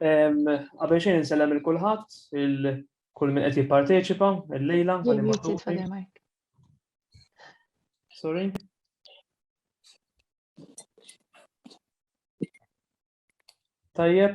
Qabel xejn insellem il-kulħadd, il-kull min qed jipparteċipa il-lejla. Sorry. Tajjeb,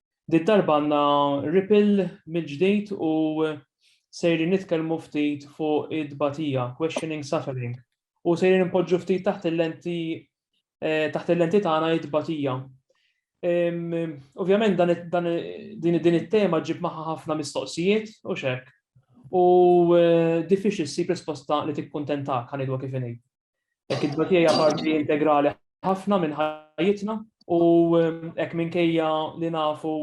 Di darba għandna ripil mill-ġdid u sejrin nitkellmu ftit fuq id-dbatija, questioning suffering. U sejrin npoġġu ftit taħt il-lenti eh, taħt il-lenti tagħna id-dbatija. Ovvjament dan din it-tema ġib maħħa ħafna mistoqsijiet u xek. U eh, diffiċli ssib risposta li tikkuntentak ħanidwa kif inhi. Hekk it-tbatija hija parti integrali ħafna minn ħajjitna u hekk minkejja li nafu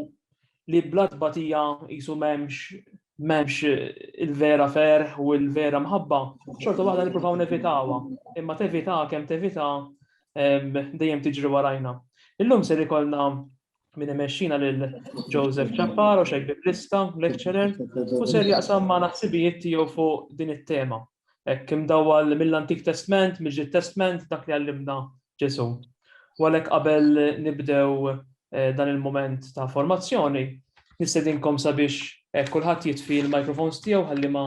li bla tbatija jisu m'hemmx memx il-vera ferħ u il-vera mħabba, xorta waħda niprofaw nevitawa, imma tevita kem tevita dejjem tiġri warajna. Illum ser ikolna Min imexxina lil Joseph Chapparo, xejk biblista, lecturer, u ser jaqsam ma' naħsibijiet tiegħu fuq din it-tema. Hekk imdawwal mill-Antik Testment, mill-Ġid Testment, dak li għallimna Ġesu. U għalhekk qabel nibdew eh, dan il-moment ta' formazzjoni, nistedinkom sabiex eh, kulħadd jitfi l-microphones tiegħu ħalli ma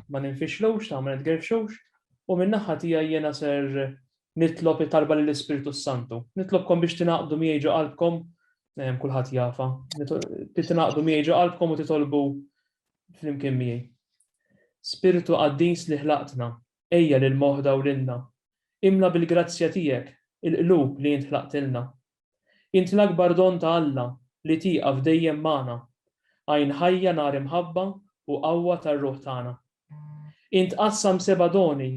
ma ninfixlux, ta' ma nitgerfxux, u min-naħa tiegħi jiena ser nitlob it-talba lill-Ispirtu s-Santu. Nitlobkom biex tingħaqdu miegħi ġo qalbkom, ehm, kulħadd jafa, biex tingħaqdu miegħi ġo qalbkom u titolbu flimkien miegħi. Spirtu qaddis li ħlaqtna, ejja lil moħda u lilna. Imla bil-grazzja tiegħek il-qlub li int ħlaqtilna. Int l-akbar don ta' Alla li tieqaf dejjem magħna. Għajn ħajja nar imħabba u qawwa tar-ruħ tagħna. Int qassam seba' doni,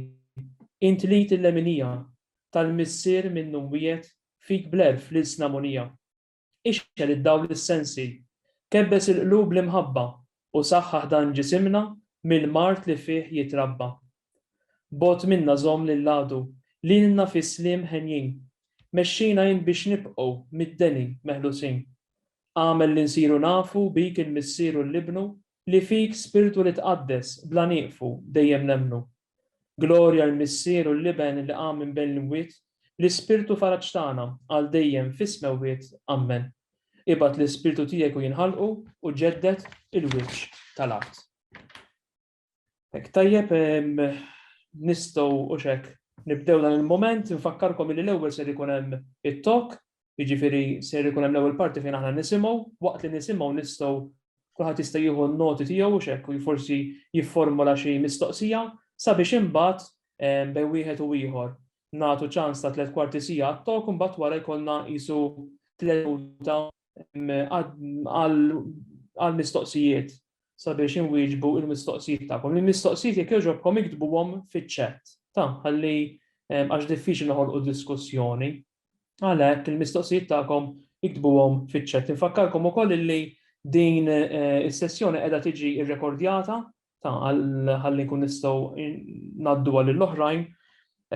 int lid il-leminija, tal-Missier minnu mwiegħed, fik bl-elf l-ilsna munija. Ixgħel id-dawl is-sensi, kebbes il-qlub l-imħabba u saħħaħ dan ġisimna mill-mard li fih jitrabba. Bogħod minna żomm lill-għadu, lilna fis-sliem henjin, mexxina int biex nibqgħu mid-deni meħlusin. Agħmel li nsiru nafu bik il-Missier u l-Ibnu li fik Spirtu li tqaddes bla nieqfu dejjem nemmnu. Glorja l-Missier u l-Iben li qam minn bejn l-imwiet, l-Ispirtu faraġ tagħna għal dejjem fis-smewwiet. Ammen. Ibgħat l-Ispirtu tiegħek u jinħalqu u ġedded il-wiċċ tal-art. Hekk tajjeb nistgħu hux hekk nibdew dan il-mument, infakkarkom li l-ewwel ser ikun hemm it-talk Jiġifieri ser ikun hemm l-ewwel parti fejn aħna nisimgħu, waqt li nisimgħu nistgħu kulħadd jista' jieħu n-noti tiegħu hux hekk u forsi jifformula xi mistoqsija sabiex imbagħad bejn wieħed u ieħor nagħtu ċans ta' tliet kwarti siegħa għat-talk imbagħad wara jkollna qisu tliet minuta għal mistoqsijiet sabiex inwieġbu il-mistoqsijiet tagħkom. Il-mistoqsijiet jekk jogħġobkom iktbuhom fiċ-chat. Ta' ħalli għax diffiċli noħolqu diskussjoni. Għalhekk il-mistoqsijiet tagħkom iktbuhom fiċ-chat. Infakkarkom ukoll illi din is-sessjoni qiegħda tiġi rrekordjata ta' ħalli nkun nistgħu ngħaddu għal l-oħrajn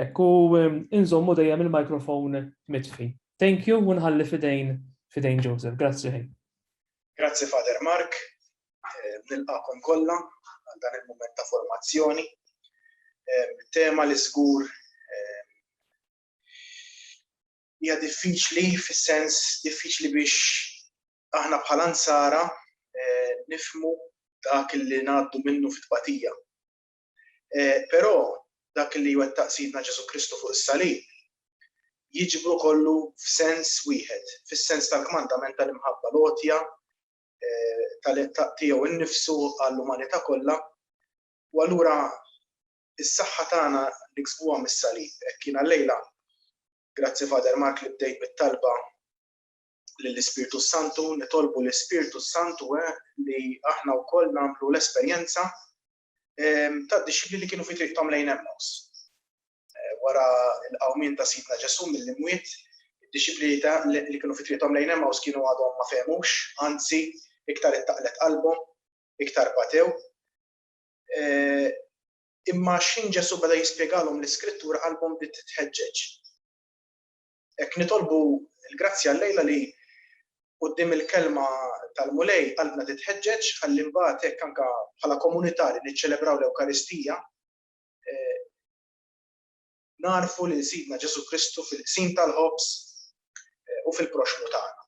hekk u inżommu dejjem il-microphone mitfi. Thank you u nħalli f'idejn f'idejn Joseph. Grazzi ħin. Grazzi Father Mark. Nilqakom kollha għal dan il-mument ta' formazzjoni. Tema li żgur Hija diffiċli fis-sens diffiċli biex aħna bħala nsara eh, nifmu dak li ngħaddu minnu fit-tbatija. Eh, però dak li jwettaq sidna Ġesu Kristu fuq is-salib jiġbru kollu f'sens wieħed, fis-sens tal-kmandament tal-imħabba lotja eh, tal-ettaq tiegħu nnifsu għall-umanità kollha. U allura Is-saħħa tagħna niksbuha mis-Salib. Hekk jiena llejla, grazzi Father Mark li bdejt bit-talba lill-Ispirtu s-Santu, nitolbu l-Ispirtu s-Santu eh, li aħna wkoll nagħmlu l-esperjenza ehm, ta' dixxipli li kienu fi triqthom lejn Emmaus. Eh, wara l-qawmien ta' Sidna Ġesu mill-imwiet, id-dixxipli li kienu fi triqthom lejn Emmaus kienu għadhom ma fehmux, anzi iktar ittaqlet qalbhom, iktar batew. Imma xħin Ġesù beda jispjegalhom l-Iskrittura qalbhom bdiet titħeġġeġ. Hekk nitolbu l-grazzja llejla li quddiem il-kelma tal-Mulej qalbna titħeġġeġ ħalli mbagħad hekk anke bħala komunità li niċċelebraw l-Ewkaristija nagħrfu lil Sidna Ġesù Kristu fil-qsim tal-ħobż u fil-proxxmu tagħna.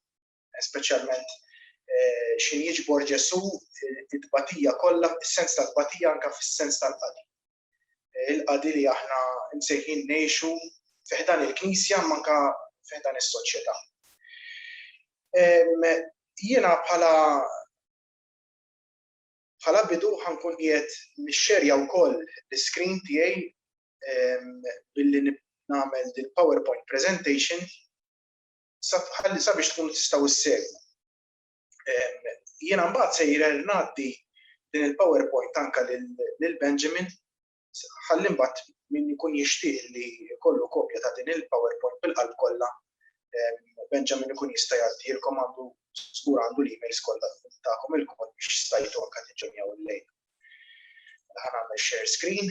speċjalment eh, xi jiġbor Ġesù it-tbatija kollha, is-sens tal-tbatija anke fis-sens tal-qadi. Eh, il-qadi li aħna msejħin ngħixu fiħdan il-Knisja manka fiħdan is-soċjetà. Jiena bħala bħala bidu ħankun jiet nixxerja wkoll l-screen tiegħi billi nagħmel din PowerPoint presentation ħalli sabiex tkunu tistgħu ssegwu. Jiena mbagħad sejjer ngħaddi din il-PowerPoint anke lil Benjamin ħalli mbagħad min jkun jixtieq li jkollu kopja ta' din il-PowerPoint bil-qalb kollha Benjamin ikun jista' jgħaddilkom għandu żgur għandu l-emails kollha tagħkom il-kod biex stajtu anke tiġġenjaw il-lejl. Ħa nagħmel share screen.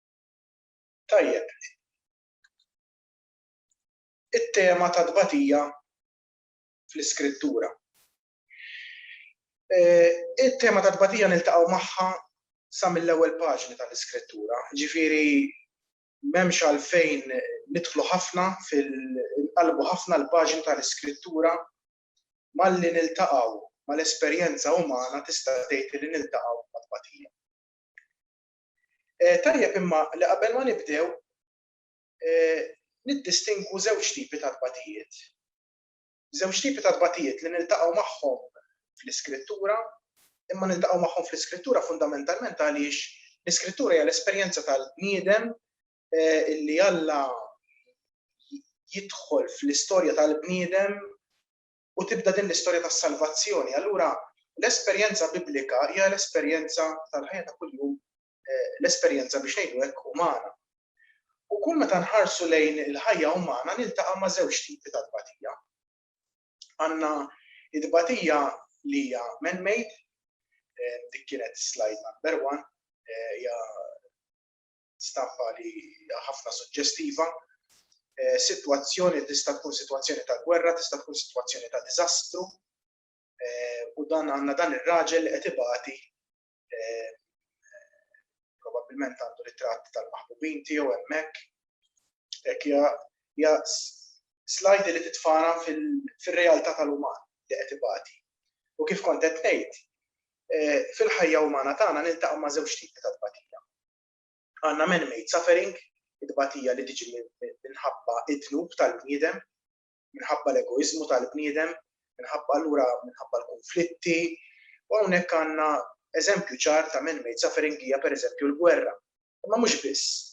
Tajjeb. It-tema ta' tbatija fl-Iskrittura. It-tema ta' tbatija niltaqgħu magħha sa mill-ewwel paġni tal-Iskrittura, ġifieri m'hemmx għalfejn nidħlu ħafna fil inqallbu ħafna l-paġni tal-Iskrittura malli niltaqgħu mal-esperjenza umana tista' tgħid li niltaqgħu ma' tbatija. Tajjeb imma li qabel ma nibdew niddistingwu żewġ tipi ta' tbatijiet. Żewġ tipi ta' tbatijiet li niltaqgħu magħhom fl-Iskrittura, imma niltaqgħu magħhom fl-Iskrittura fundamentalment għaliex l-Iskrittura hija l-esperjenza tal-bniedem li Alla jidħol fl-istorja tal-bniedem u tibda din l-istorja tas-salvazzjoni. Allura, l-esperjenza Biblika hija l-esperjenza tal-ħajja ta' kuljum, l-esperjenza biex ngħidu hekk umana. U kull meta nħarsu lejn il-ħajja umana niltaqa' ma' żewġ tipi ta' tbatija. Għandna t-tbatija li hija man-made, dik kienet slide number one, hija stampa li hija ħafna suġġestiva. Eh, sitwazzjoni tista' tkun sitwazzjoni ta' gwerra, tista' tkun sitwazzjoni ta' diżastru, eh, u dan għandna dan ir-raġel qed ibati eh, probabbilment għandu ritratt tal-maħbubin tiegħu hemmhekk. Hekk hija slajdi li titfana fil-realtà tal-uman li qed ibati. U kif kont qed ngħid, Fil-ħajja umana tagħna niltaqgħu ma' żewġ tipi ta' tbatija. Għandna man-made suffering, it-tbatija li tiġi minħabba d-dnub tal-bniedem, minħabba l-egoiżmu tal-bniedem, minħabba allura minħabba l-kunflitti, u hawnhekk għandna eżempju ċar ta' man-made suffering hija pereżempju l-gwerra. Imma mhux biss.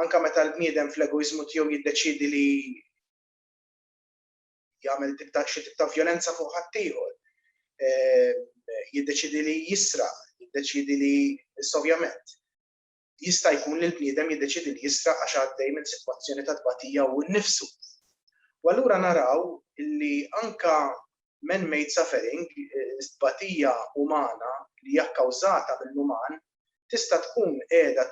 Anke meta l-bniedem fl-egoiżmu tiegħu jiddeċiedi li. jagħmel tip ta' xi tip ta' vjolenza fuq ħaddieħor, jiddeċidi li jisraq, jiddeċidi li ovvjament jista' jkun li l-bniedem jiddeċidi li jisraq għax għaddej minn sitwazzjoni ta' tbatija hu nnifsu. U allura naraw li anka man-made suffering, tbatija umana li hija kkawżata mill-uman, tista' tkun qiegħda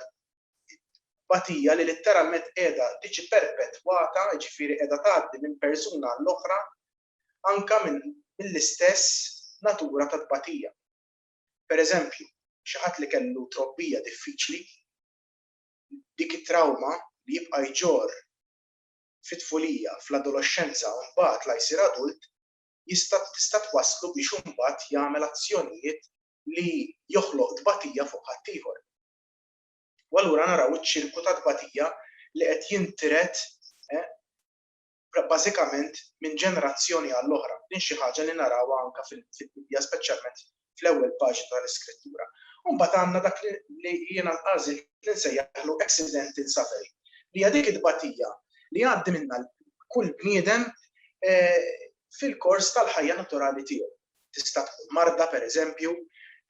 It-tbatija li litteralment qiegħda tiġi perpetwata, jiġifieri qiegħda tgħaddi minn persuna għall-oħra anke mill-istess natura ta' tbatija. Per eżempju, xi ħadd li kellu trobbija diffiċli, dik it-trawma li jibqa' jġorr fit-tfulija, fl-adoloxxenza u mbagħad la jsir adult, jista' tista' twasslu biex hu mbagħad jagħmel azzjonijiet li joħloq tbatija fuq ħaddieħor. U allura naraw iċ-ċirku ta' tbatija li qed jintiret bażikament minn ġenerazzjoni għall-oħra. Din xi ħaġa li narawha anke fil-Bibbja, speċjalment fl-ewwel paġni tal-Iskrittura. U mbagħad għandna dak li jiena għażilt li nsejjaħlu accidental suffering, li hija dik it-tbatija li jgħaddi minnha kull bniedem fil-kors tal-ħajja naturali tiegħu. Tista' tkun marda, pereżempju,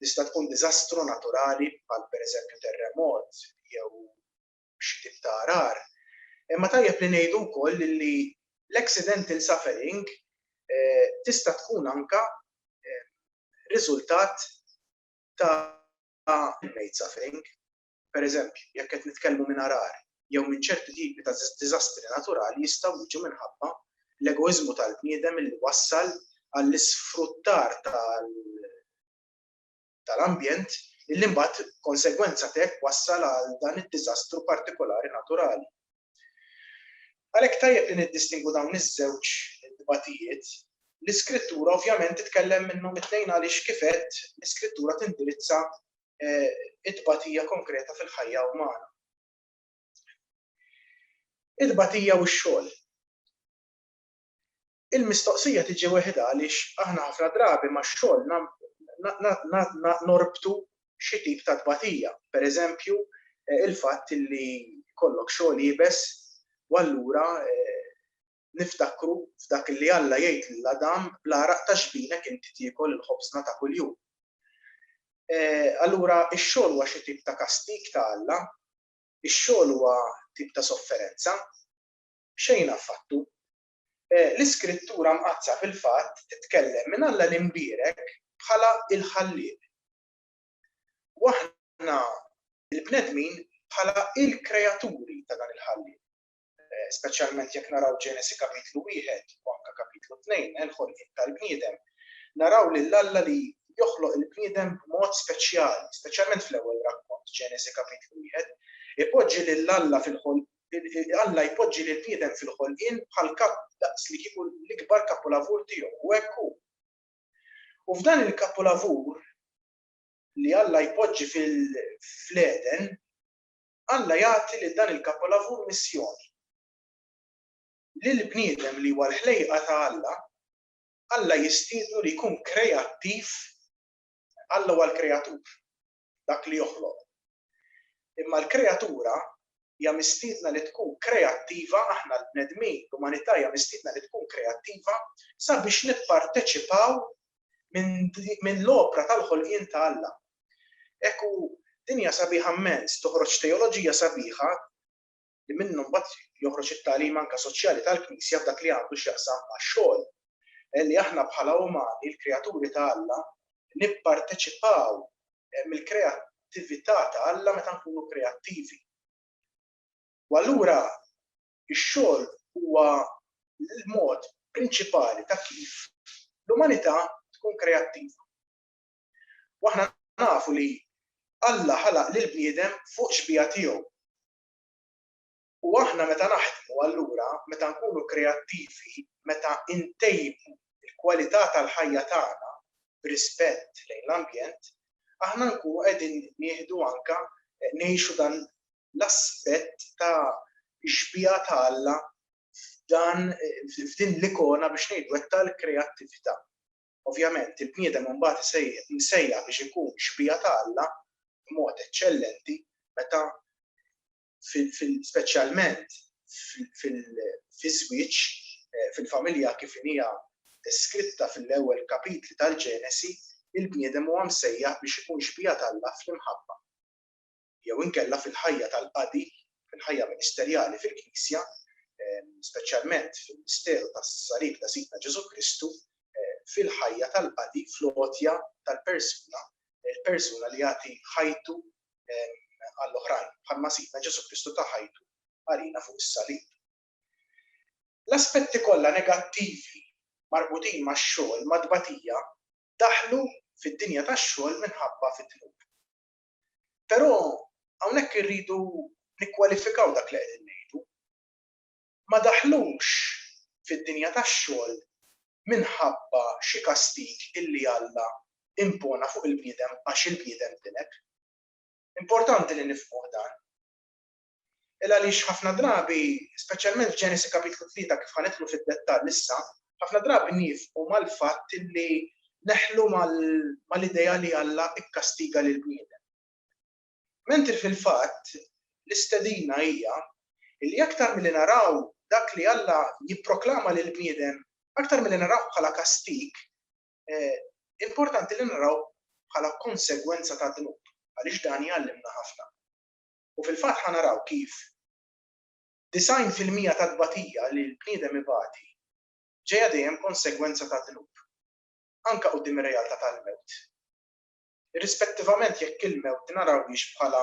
tista' tkun diżastru naturali bħal pereżempju terremot jew xi tip ta' għarar. Imma tajjeb li ngħidu wkoll li l-accidental suffering tista' tkun anke riżultat ta' man-made suffering. Pereżempju, jekk qed nitkellmu minn għargħar jew minn ċerti tipi ta' diżastri naturali jistgħu jiġu minħabba l-egoiżmu tal-bniedem illi wassal għall-isfruttar tal-ambjent illi mbagħad b'konsegwenza t'hekk wassal għal dan id-diżastru partikolari naturali. Għalhekk tajjeb li niddistingwu dawn iż-żewġ tbatijiet. L-Iskrittura ovvjament titkellem minnhom it-tnejn għaliex kif għedt l-Iskrittura tindirizza it-tbatija konkreta fil-ħajja umana. It-tbatija u x-xogħol. Il-mistoqsija tiġi weħda għaliex aħna ħafna drabi max-xogħol norbtu xi tip ta' tbatija. Per eżempju, il-fatt li kollok xogħol jibes u allura niftakru f'dak li Alla jgħid lil Adam, bl-għaraq ta' ġbinek inti tiekol il-ħobżna ta' kuljum. Allura x-xogħol huwa xi tip ta' kastig ta' Alla? Ix-xogħol huwa tip ta' sofferenza? Xejn affattu. L-Iskrittura Mqaddsa fil-fatt titkellem minn Alla l-Imbierek bħala l-Ħallieq. U aħna l-bnedmin bħala l-kreaturi ta' dan il-Ħallieq. speċjalment jekk naraw Ġenesi kapitlu wieħed u anke kapitlu tnejn, il-ħolqien tal-bniedem, naraw lil Alla li joħloq il-bniedem b'mod speċjali, speċjalment fl-ewwel rakkont Ġenesi kapitlu wieħed, ipoġġi lil Alla fil-ħol Alla jpoġġi lil bniedem fil-ħolqien bħal kap daqs li kieku l-ikbar kapolavur tiegħu u hekk hu. U f'dan il-kapolavur li Alla jpoġġi fil-fleden, Alla jagħti lil dan il-kapolavur missjoni. Lill-bniedem li huwa l-ħlejqa ta' Alla, Alla jistiednu li jkun kreattiv. Alla huwa l-kreatur, dak li joħloq. Imma l-kreatura hija mistiedna li tkun kreattiva, aħna l-bnedmin, l-umanità hija mistiedna li tkun kreattiva sabiex nipparteċipaw minn l-opra tal-ħolqien ta' Alla. Hekk hu, dinja sabiħa mmens, toħroġ teoloġija sabiħa li minnha mbagħad joħroġ it-tagħlim anke soċjali tal-Knisja f'dak li għandu x'jaqsam max-xogħol, li aħna bħala umani, l-kreaturi ta' Alla, nipparteċipaw mill-kreattività ta' Alla meta nkunu kreattivi. U allura ix-xogħol huwa l-mod prinċipali ta' kif l-umanità tkun kreattiva. U aħna nafu li Alla ħalaq lill-bniedem fuq xbieha tiegħu. U aħna meta naħdmu allura, meta nkunu kreattivi, meta ntejbu l-kwalità tal-ħajja tagħna b'rispett lejn l-ambjent, aħna nkunu qegħdin nieħdu anke ngħixu dan l-aspett ta' xbieha ta' Alla f'dan f'din l-ikona biex ngħidu hekk tal-kreattività. Ovvjament, il-bniedem imbagħad imsejjaħ biex ikun xbieha ta' Alla b'mod eċċellenti meta speċjalment fiż-żwieġ, fil-familja kif inhi deskritta fil-ewwel kapitli tal-Ġenesi, il-bniedem huwa msejjaħ biex ikun xbieha t'Alla fl-imħabba. jew inkella fil-ħajja tal-qadi, fil-ħajja ministerjali fil-Knisja, speċjalment fil-misteru tas-Salib ta' Sidna Ġesù Kristu, fil-ħajja tal-qadi, fl-għotja tal-persuna, il-persuna li jagħti ħajtu għall-oħrajn, bħalma Sidna Ġesù Kristu ta ħajtu għalina fuq is-Salib. L-aspetti kollha negattivi marbutin max-xogħol, mat-tbatija, daħlu fid-dinja tax-xogħol minħabba fid-dnub. Però hawnhekk irridu nikkwalifikaw dak li qegħdin ngħidu. Ma daħlux fid-dinja tax-xogħol minħabba xi kastig illi Alla impona fuq il-bniedem għax il-bniedem tilef. Importanti li nifhmuh dan. Il għaliex ħafna drabi, speċjalment f'Ġenesi Kapitlu Tlieta kif ħa nidħlu fid-dettall issa, ħafna drabi niefqu mal-fatt li neħlu mal-idea li Alla kkastiga lill-bniedem. Mentri fil-fatt, l-istedina hija li aktar milli naraw dak li Alla jipproklama lill-bniedem, aktar milli narawh bħala kastig, importanti li narawh bħala konsegwenza tad-dnub, għaliex dan jgħallimna ħafna. U fil-fatt ħa naraw kif 90 fil-mija tat-tbatija li l-bniedem ibati ġejja dejjem konsegwenza tad-dnub, anke quddiem ir-realtà tal-mewt. Irrispettivament jekk il-mewt narawhiex bħala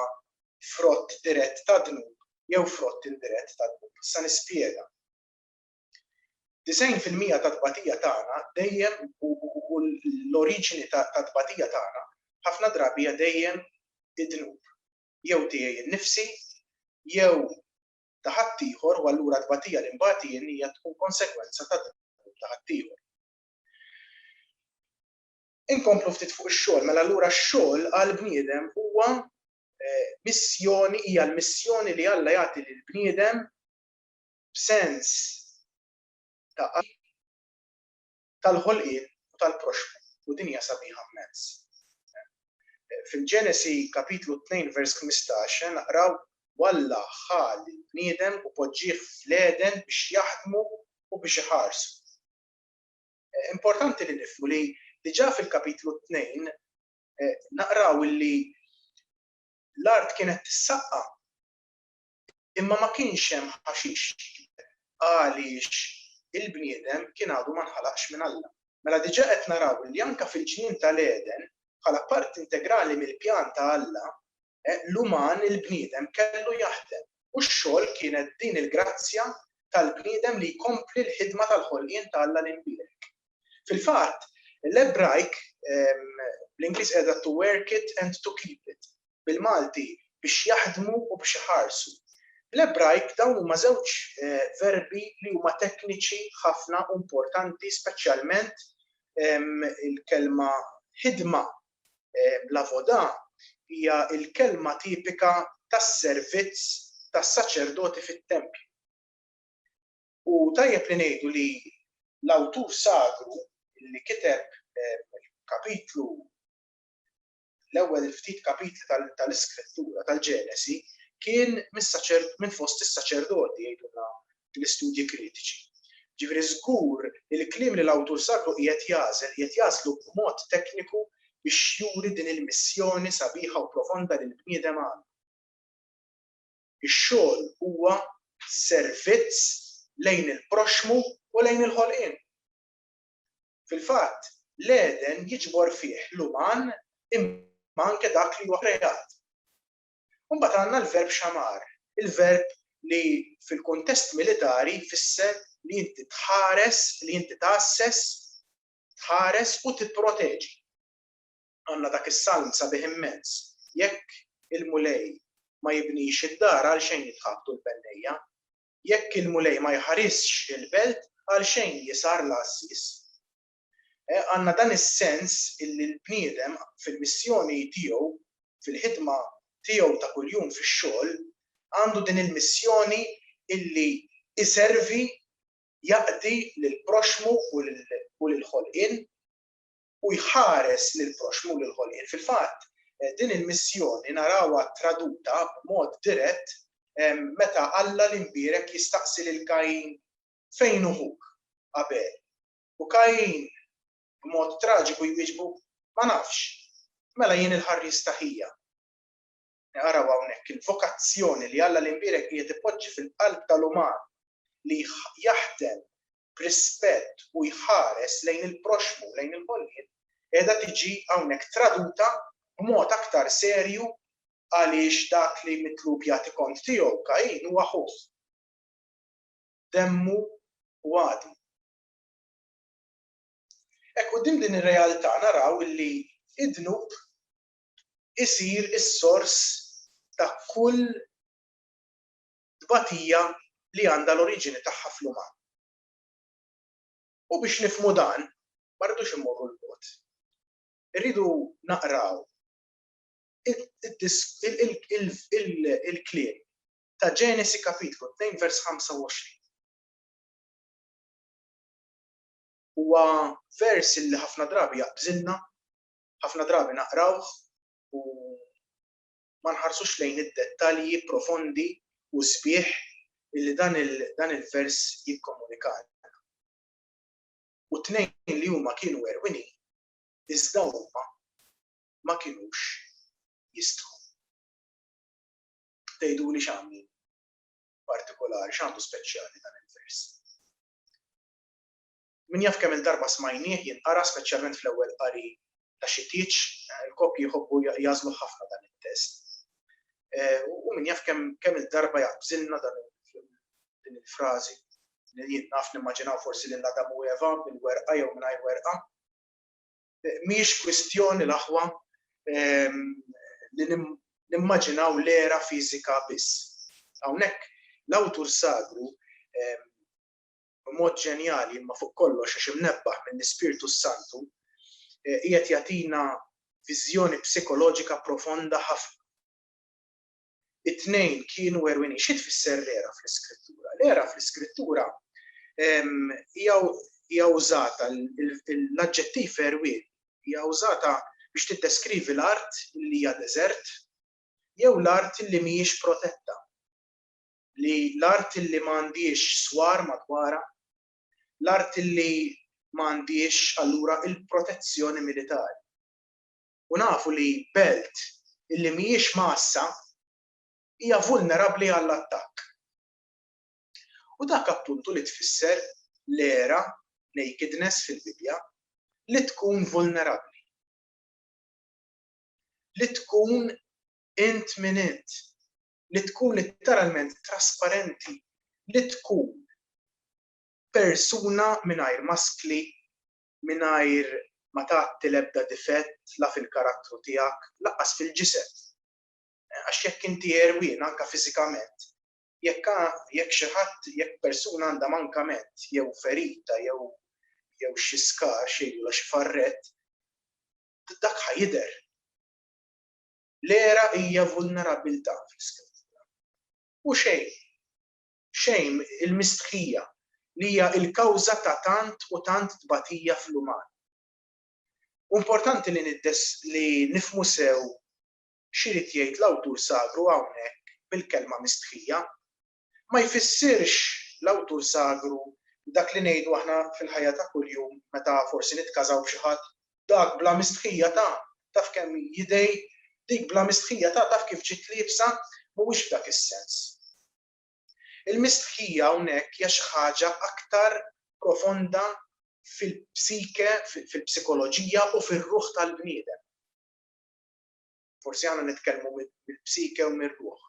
frott dirett tad-dnub jew frott indirett tad-dnub. Issa nispjega. 90 fil-mija tat-tbatija tagħna dejjem u l-oriġini tat-tbatija tagħna ħafna drabi hija dejjem id-dnub. jew tiegħi nnifsi jew ta' ħaddieħor u allura t-tbatija li nbat jien hija tkun konsegwenza ta' dak ta' ħaddieħor. Inkomplu ftit fuq ix-xogħol, mela allura x-xogħol għal bniedem huwa eh, missjoni hija l-missjoni li Alla jagħti lil bniedem b'sens ta' tal-ħolqien u tal-proxmu u dinja sabiħa mmens. Fil-Ġenesi kapitlu 2 vers 15 naqraw u Alla ħa lill-bniedem u poġġieh fl-Għeden biex jaħdmu u biex iħarsu. Importanti li nifhmu li diġà fil-kapitlu 2 naqraw illi l-art kienet tissaqqa Imma ma kienx hemm ħaxix. Għaliex? Il-bniedem kien għadu ma nħalaqx minn Alla. Mela diġà qed naraw li anke fil-ġnien ta' l-Għeden, bħala parti integrali mill-pjan ta' Alla, l-uman, il-bniedem, kellu jaħdem. U x-xogħol kienet din il-grazzja tal-bniedem li jkompli l-ħidma tal-ħolqien ta' Alla l-Imbierek. Fil-fatt, l-Ebrajk, bl-Ingliż qiegħda to work it and to keep it. bil-Malti biex jaħdmu u biex iħarsu. Bl-Ebrajk dawn huma żewġ verbi li huma tekniċi ħafna u importanti speċjalment il-kelma ħidma, l-avodah, hija l-kelma tipika tas-servizz tas-saċerdoti fit-tempju. U tajjeb li ngħidu li l-awtur sagru li kiteb il-kapitlu l-ewwel ftit kapitli tal-Iskrittura, tal-Ġenesi, kien minn fost is-saċerdoti, jgħidulna l-istudji kritiċi. Ġifieri żgur li l-kliem li l-awtur sagru qiegħed jagħżel, qiegħed jagħżlu b'mod tekniku biex juri din il-missjoni sabiħa u profonda li l-bniedem għandu. Ix-xogħol huwa servizz lejn il-proxxmu u lejn il-ħolqien. Fil-fatt, l-Għeden jiġbor fih l-uman imma anke dak li huwa kreat. U mbagħad għandna l-verb xamar, il-verb li fil-kuntest militari jfisser li inti tħares, li inti tgħasses, tħares u tipproteġi. Għandna dak is-salm sabiħ immens, Jekk il-Mulej ma jibnix id-dar għalxejn jitħabtu l-bennejja, Jekk il-Mulej ma jħarisx il-belt, għalxejn hi sar l-għassis. Għandna dan is-sens illi l-bniedem fil-missjoni tiegħu, fil-ħidma tiegħu ta' kuljum fix-xogħol, għandu din il-missjoni illi jservi, jaqdi lill-proxxmu u lill-ħolqien. u jħares lill-proxxmu, lill-ħolqien. Fil-fatt, din il-missjoni narawha traduta b'mod dirett meta Alla l-Imbierek jistaqsi lil Kajin, Fejn hu ħuk, Abel? U Kajin, b'mod traġiku jwieġbu, Ma nafx. Mela jien il-ħarries ta' ħija. Naraw hawnhekk il-vokazzjoni li Alla l-Imbierek qiegħed ipoġġi fil-qalb tal-uman li jaħdem b'rispett u jħares lejn il-proxxmu u lejn il-ħolqien qiegħda tiġi hawnhekk traduta b'mod aktar serju għaliex dak li mitlub jagħti kont tiegħu Kajin huwa ħuh, demmu u għadmu. Hekk quddiem din ir-realtà naraw li d-dnub isir is-sors ta' kull tbatija li għandha l-oriġini tagħha fl-uman. U biex nifhmu dan, ma rridux immorru 'l bogħod. Irridu naqraw il-kliem ta' Ġenesi Kapitlu 2 vers 25. Huwa vers li ħafna drabi jaqbżilna, ħafna drabi naqrawh u ma nħarsux lejn id-dettalji profondi u sbieħ li dan il-vers jikkomunikalna. U t-tnejn li huma kienu għerwinin, iżda huma ma kinux jistħu. Tgħiduli x'għamlu partikolari, x'għamlu speċjali dan il-vers. Min jaf kemm-il darba smajnieh jinqara speċjalment fl-ewwel qari ta' xi tieġ, il-koppji jħobbu jagħżluh ħafna dan it-test. U min jaf kemm-il darba jaqbżilna dan din il-frażi li jien naf nimmaġinaw forsi lil Adam u Eva bil-werqa jew mingħajr werqa. Mhijiex kwistjoni l-aħwa li nimmaġinaw l-era fiżika biss. Hawnhekk l-awtur sagru b'mod ġenjali imma fuq kollox għax imnebbaħ mill-Ispirtu s-Santu, qiegħed jagħtina viżjoni psikoloġika profonda ħafna. It-tnejn kienu għerwienin. Xi tfisser l-għera fl-Iskrittura? L-għera fl-Iskrittura hija użata l-aġġettiv għerwien hija użata biex tiddeskrivi l-art li hija deżert jew l-art li mhijiex protetta. li l-art li ma għandhiex swar madwarha, l-art li ma għandhiex allura l-protezzjoni militari. U nafu li belt li mhijiex mgħassa hija vulnerabbli għall-attakk. U dak appuntu li tfisser l-għera, nakedness fil-Bibbja, li tkun vulnerabbli. Li tkun int min int. li tkun litteralment trasparenti li tkun persuna mingħajr maskli, mingħajr ma tgħatti l-ebda difett la fil-karattru tiegħek, lanqas fil-ġised. Għax jekk inti għerwien anke fiżikament, jekk jekk xi ħadd, jekk persuna għandha mankament jew ferita jew jew xi skar xejn u la xi farrett, dak ħa jidher. L-era hija vulnerabbiltà fl-Iskrittura. U xejn, xejn, il-mistħija, li hija l-kawża ta' tant u tant tbatija fl-uman. U importanti li li nifhmu sew x'irid jgħid l-awtur sagru hawnhekk bil-kelma mistħija. ma jfissirx l-awtur sagru dak li ngħidu aħna fil-ħajja ta' kuljum meta forsi nitkażaw b'xi ħadd, dak bla mistħija ta' taf kemm hi jidej, dik bla mistħija ta' taf kif ġiet liebsa, mhuwiex f'dak is-sens. Il-mistħija hawnhekk hija xi ħaġa aktar profonda fil-psike, fil-psikoloġija u fir-ruħ tal-bniedem. Forsi aħna nitkellmu mill-psike u mir-ruħ.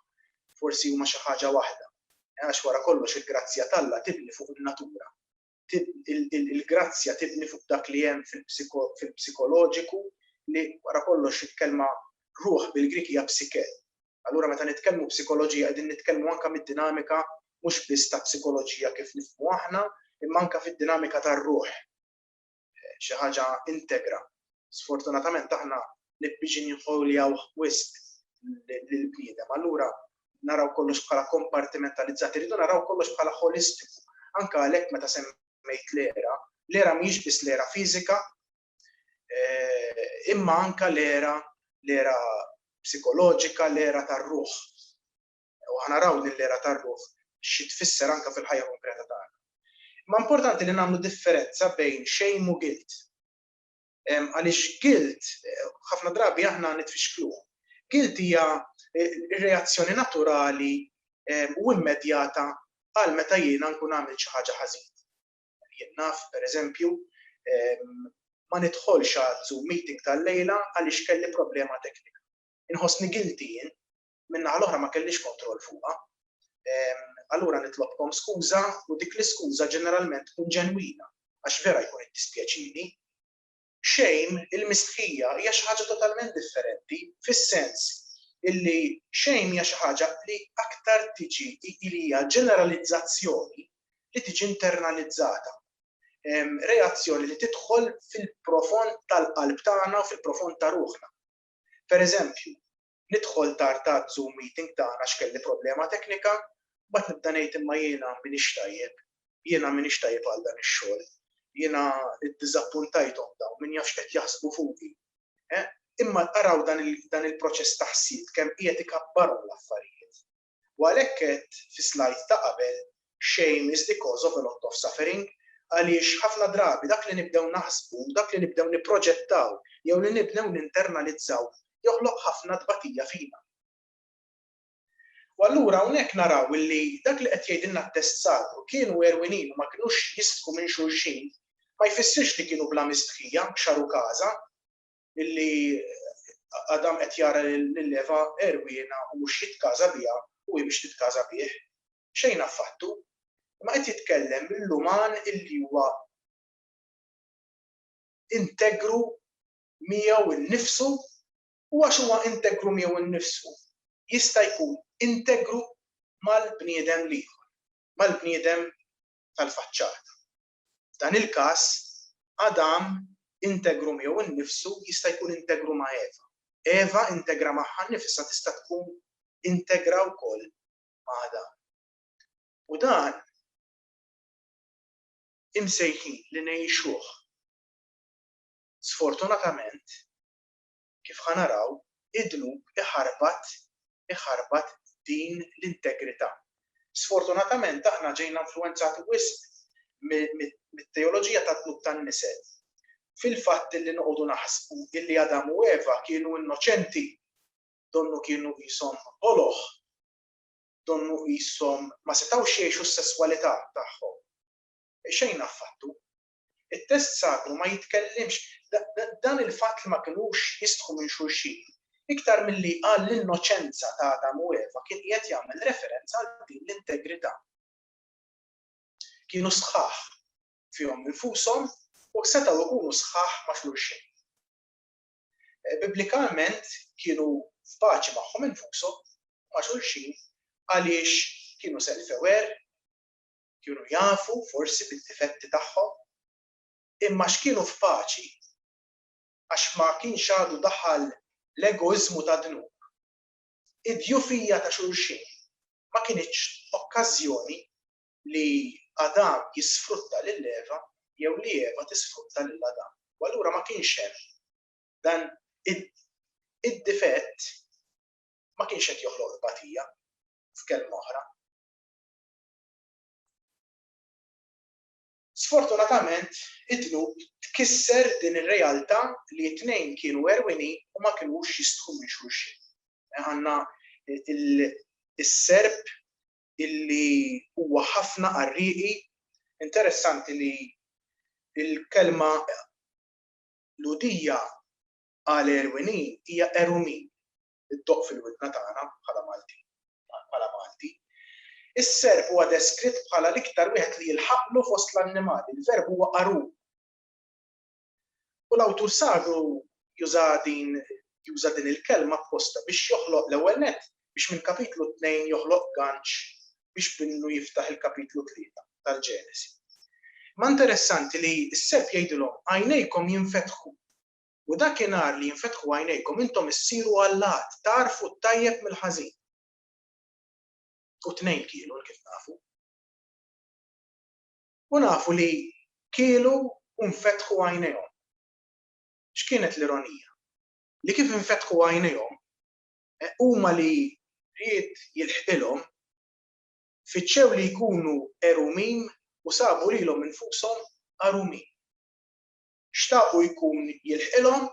Forsi huma xi ħaġa waħda. Għax wara kollox il-grazzja t'Alla tibni fuq in-natura. Il-grazzja tibni fuq dak li hemm fil-psikoloġiku li wara kollox il-kelma ruħ bil-Grieg hija psike. Allura meta nitkellmu psikoloġija qegħdin nitkellmu anke mid-dinamika mhux biss ta' psikoloġija kif nifhmu aħna, imma anke fid-dinamika tar-ruħ. xi ħaġa integra. Sfortunatament aħna nibbiġinjħoljawh wisq lill-bniedem. Allura naraw kollox bħala kompartimentalizzat, irridu naraw kollox bħala holistiku. Anka għalhekk meta semmejt l-era, l-era mhijiex biss l-era fiżika, eh, imma anka l-era l-era psikoloġika, l-era tar-ruħ. u ħa naraw din l-era tar-ruħ xi tfisser anke fil-ħajja konkreta tagħna. Imma importanti li nagħmlu differenza bejn shame u guilt. Għaliex guilt ħafna drabi aħna nitfixkluh. Guilt hija r-reazzjoni naturali u immedjata għal meta jiena nkun għamil xi ħaġa ħażin. Jien naf, pereżempju, ma nidħolx għal Zoom meeting tal-lejla għaliex kelli problema teknika. Inħossni guilty jien min-naħa l-oħra ma kellix kontroll fuqha. Allura nitlobkom skuża u dik l-iskuża ġeneralment tkun ġenwina għax vera jkun iddispjaċini. Shame, il-mistħija, hija xi ħaġa totalment differenti fis-sens illi shame hija xi ħaġa li aktar tiġi li hija ġeneralizzazzjoni li tiġi internalizzata. Reazzjoni li tidħol fil-profond tal-qalb tagħna u fil-profond ta' ruħna. Per eżempju, nidħol tard għaz-zoom meeting tagħna għax kelli problema teknika, mbagħad nibda ngħid imma jiena m'iniex tajjeb, jiena m'iniex tajjeb għal dan ix-xogħol, jiena iddiżappuntajthom dawn, min jaf x'qed jaħsbu fuqi. Imma araw dan il-proċess ta' ħsieb kemm qiegħed ikabbarhom l-affarijiet. u għalhekk għedt fis-slide ta' qabel shame is the cause of a lot of suffering għaliex ħafna drabi dak li nibdew naħsbu, dak li nibdew nipproġettaw jew li nibnew ninternalizzaw joħloq ħafna tbatija fina. U allura hawnhekk naraw illi dak li qed jgħidilna t-test sagru, kienu għerwinin u ma kinux jistħu minn xulxin, ma jfissirx li kienu bla mistħija, xaru każa, illi Adam qed jara lil Eva erwiena u mhux jitkaża biha u hi biex titkaża bih, xejn affattu. Ma qed jitkellem mill-uman illi huwa integru miegħu innifsu u għax huwa integru miegħu nnifsu jista' jkun integru mal-bniedem l-ieħor, mal-bniedem tal-faċċata. F'dan il-każ, Adam integru miegħu nnifsu jista' jkun integru ma' Eva. Eva integra magħha nnifisha tista' tkun integra wkoll ma' Adam. U dan imsejħin li ngħixuh. Sfortunatament, kif ħa naraw, id-dnub iħarbat iħarbat din l-integrità. Sfortunatament aħna ġejna influwenzati wisq mit-teoloġija tad-dnub tan-nisel. Fil-fatt illi noqogħdu naħsbu illi Adam u Eva kienu innoċenti, donnu kienu qishom boloh, donnu qishom ma setgħux jgħixu s-sesswalità tagħhom. Xejn affattu. It-test sagru ma jitkellimx dan il-fatt li ma kinux jistħu minn xulxin, iktar milli għall-innoċenza ta' Adam u Eva kien qiegħed jagħmel referenza għal din l-integrità. Kienu sħaħ fihom infushom u setgħu jkunu sħaħ ma' xulxin. Biblikalment kienu f'paċi magħhom infushom u ma' xulxin għaliex kienu selfew għerq, Kienu jafu forsi bid-difetti tagħhom, imma x'kienu f'paċi għax ma kienx għadu daħal l-egoiżmu tad-dnub. Id-djufija ta' xulxin ma kinitx okkażjoni li Adam jisfrutta lil Eva jew li Eva tisfrutta lil Adam, u allura ma kienx hemm dan id-difett ma kienx qed joħloq tbatija, f'kelma oħra. Sfortunatament, id-dnub tkisser din ir-realtà li t-tnejn kienu għerwienin u ma kinux jistħu minn xulxin. Għandna l-Serb illi huwa ħafna qarrieqi, interessanti li l-kelma Lhudija għal għerwienin hija għerumin, iddoqq fil-widna tagħna bħala Maltin, bħala Malti. Is-serp huwa deskritt bħala l-iktar wieħed li jilħaqlu fost l-annimali, il-verb huwa qarum. U l-awtur sagħdu juża din juża din il-kelma apposta biex joħloq l-ewwel net biex minn kapitlu 2 joħloq ganċ biex binnu jiftaħ il-kapitlu 3 tal-Ġenesi. Ma interessanti li s-seb jgħidilhom għajnejkom jinfetħu U dakinhar li jinfetħu għajnejkom intom issiru allat, tagħrfu t-tajjeb mill-ħażin. U tnejn kielu hekk kif nafu. U nafu li kielu u nfetħu għajnejhom. X'kienet l-ironija? Li kif infetħu għajnejhom, eh, huma li ried jilħqilhom, fittxew li jkunu għerumin u sabu lilhom infushom għarumin. xtaqu jkun jilħqilhom,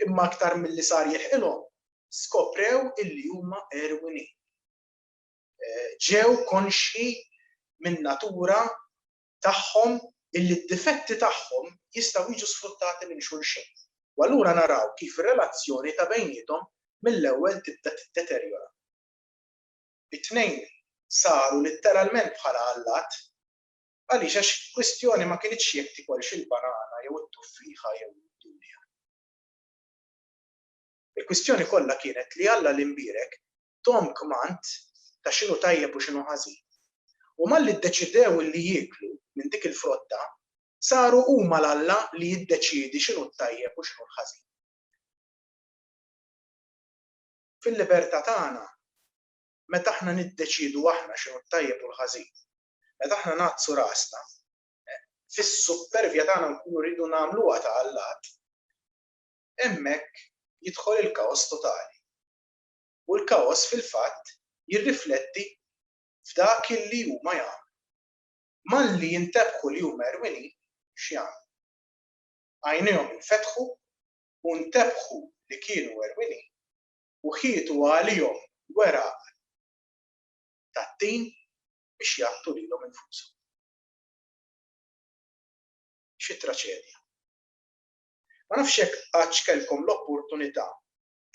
imma aktar milli sar jilħqilhom, skoprew illi huma għerwinin. Ġew konxji min-natura tagħhom illi d-difetti tagħhom jistgħu jiġu sfruttati minn xulxin. U allura naraw kif ir-relazzjoni ta' bejniethom mill-ewwel tibda tiddeterjora. It-tnejn saru litteralment bħala allat, Għaliex? Għax il-kwistjoni ma kinitx jekk tikolx il-banana jew it-tuffieħa jew id-dulja. Il-kwistjoni kollha kienet li Alla li mbierek thom kmand ta' x'inhu tajjeb u x'inhu ħażin. U malli ddeċidew li jieklu minn dik il-frotta, saru huma l-Alla li jiddeċiedi x'inhu t-tajjeb u x'inhu l-ħażin. Fil-libertà tagħna, meta aħna niddeċiedu aħna x'inhu t-tajjeb u l-ħażin, Meta aħna ngħaddsu rasna, fis-suppervja tagħna nkunu rridu nagħmluha ta' allat, hemmhekk jidħol il-kaos totali. U l-kaos fil-fatt jirrifletti f'dak li huma jagħmlu. Malli jintebħu li huma erwinin, x'jagħmlu? Għajnejhom infetħu u ntebħu li kienu erwinin u ħietu għalihom weraq tad-din biex jaqtlu lilhom infushom. Xi traċedja! Ma nafx jekk qattx kellkom l-opportunità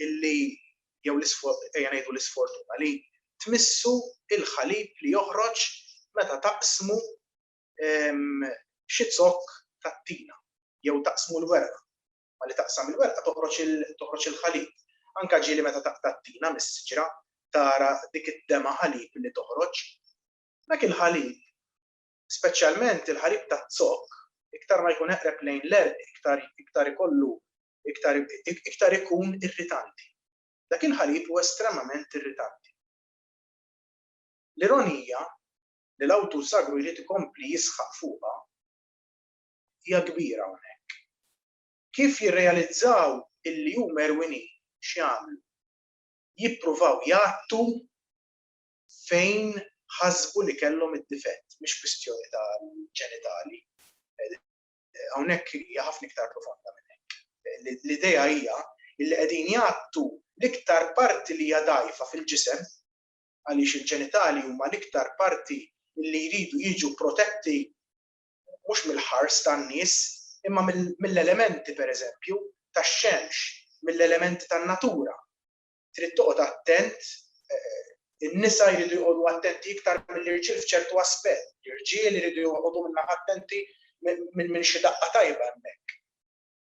illi, jew ejja ngħidu l-isfortuna, li tmissu l-ħalib li joħroġ meta taqsmu xi zokk tat-tina jew taqsmu l-weraq. Malli taqsam il-werqa toħroġ il-ħalib. Anke ġieli meta taqta' t-tina mis-siġra tara dik id-dema' ħalib li toħroġ. Dak il-ħalib, speċjalment il-ħalib taz-zokk, iktar ma jkun eqreb lejn l-għerq iktar ikollu iktar ikun irritanti. Dak il-ħalib hu estremament irritanti. L-ironija li l-awtur sagru jrid ikompli jisħaq fuqha hija kbira hawnhekk. Kif jirrealizzaw illi huma erwinin x'jagħmlu? Jippruvaw jgħattu fejn ħasbu li kellhom id-difett, mhix kwistjoni tal-ġenitali. Hawnhekk hija ħafna iktar profonda minn hekk. L-idea hija illi qegħdin jgħattu l-iktar parti li hija dgħajfa fil-ġisem għaliex il-ġenitali huma l-iktar parti illi jridu jiġu protetti mhux mill-ħars tan-nies, imma mill-elementi, pereżempju, tax-xemx, mill-elementi tan-natura. Trid toqgħod attent, in-nisa jridu joqogħdu attenti iktar mill-irġiel f'ċertu aspett, l-irġiel iridu joqogħdu min-naħa attenti minn xi daqqa tajba hemmhekk.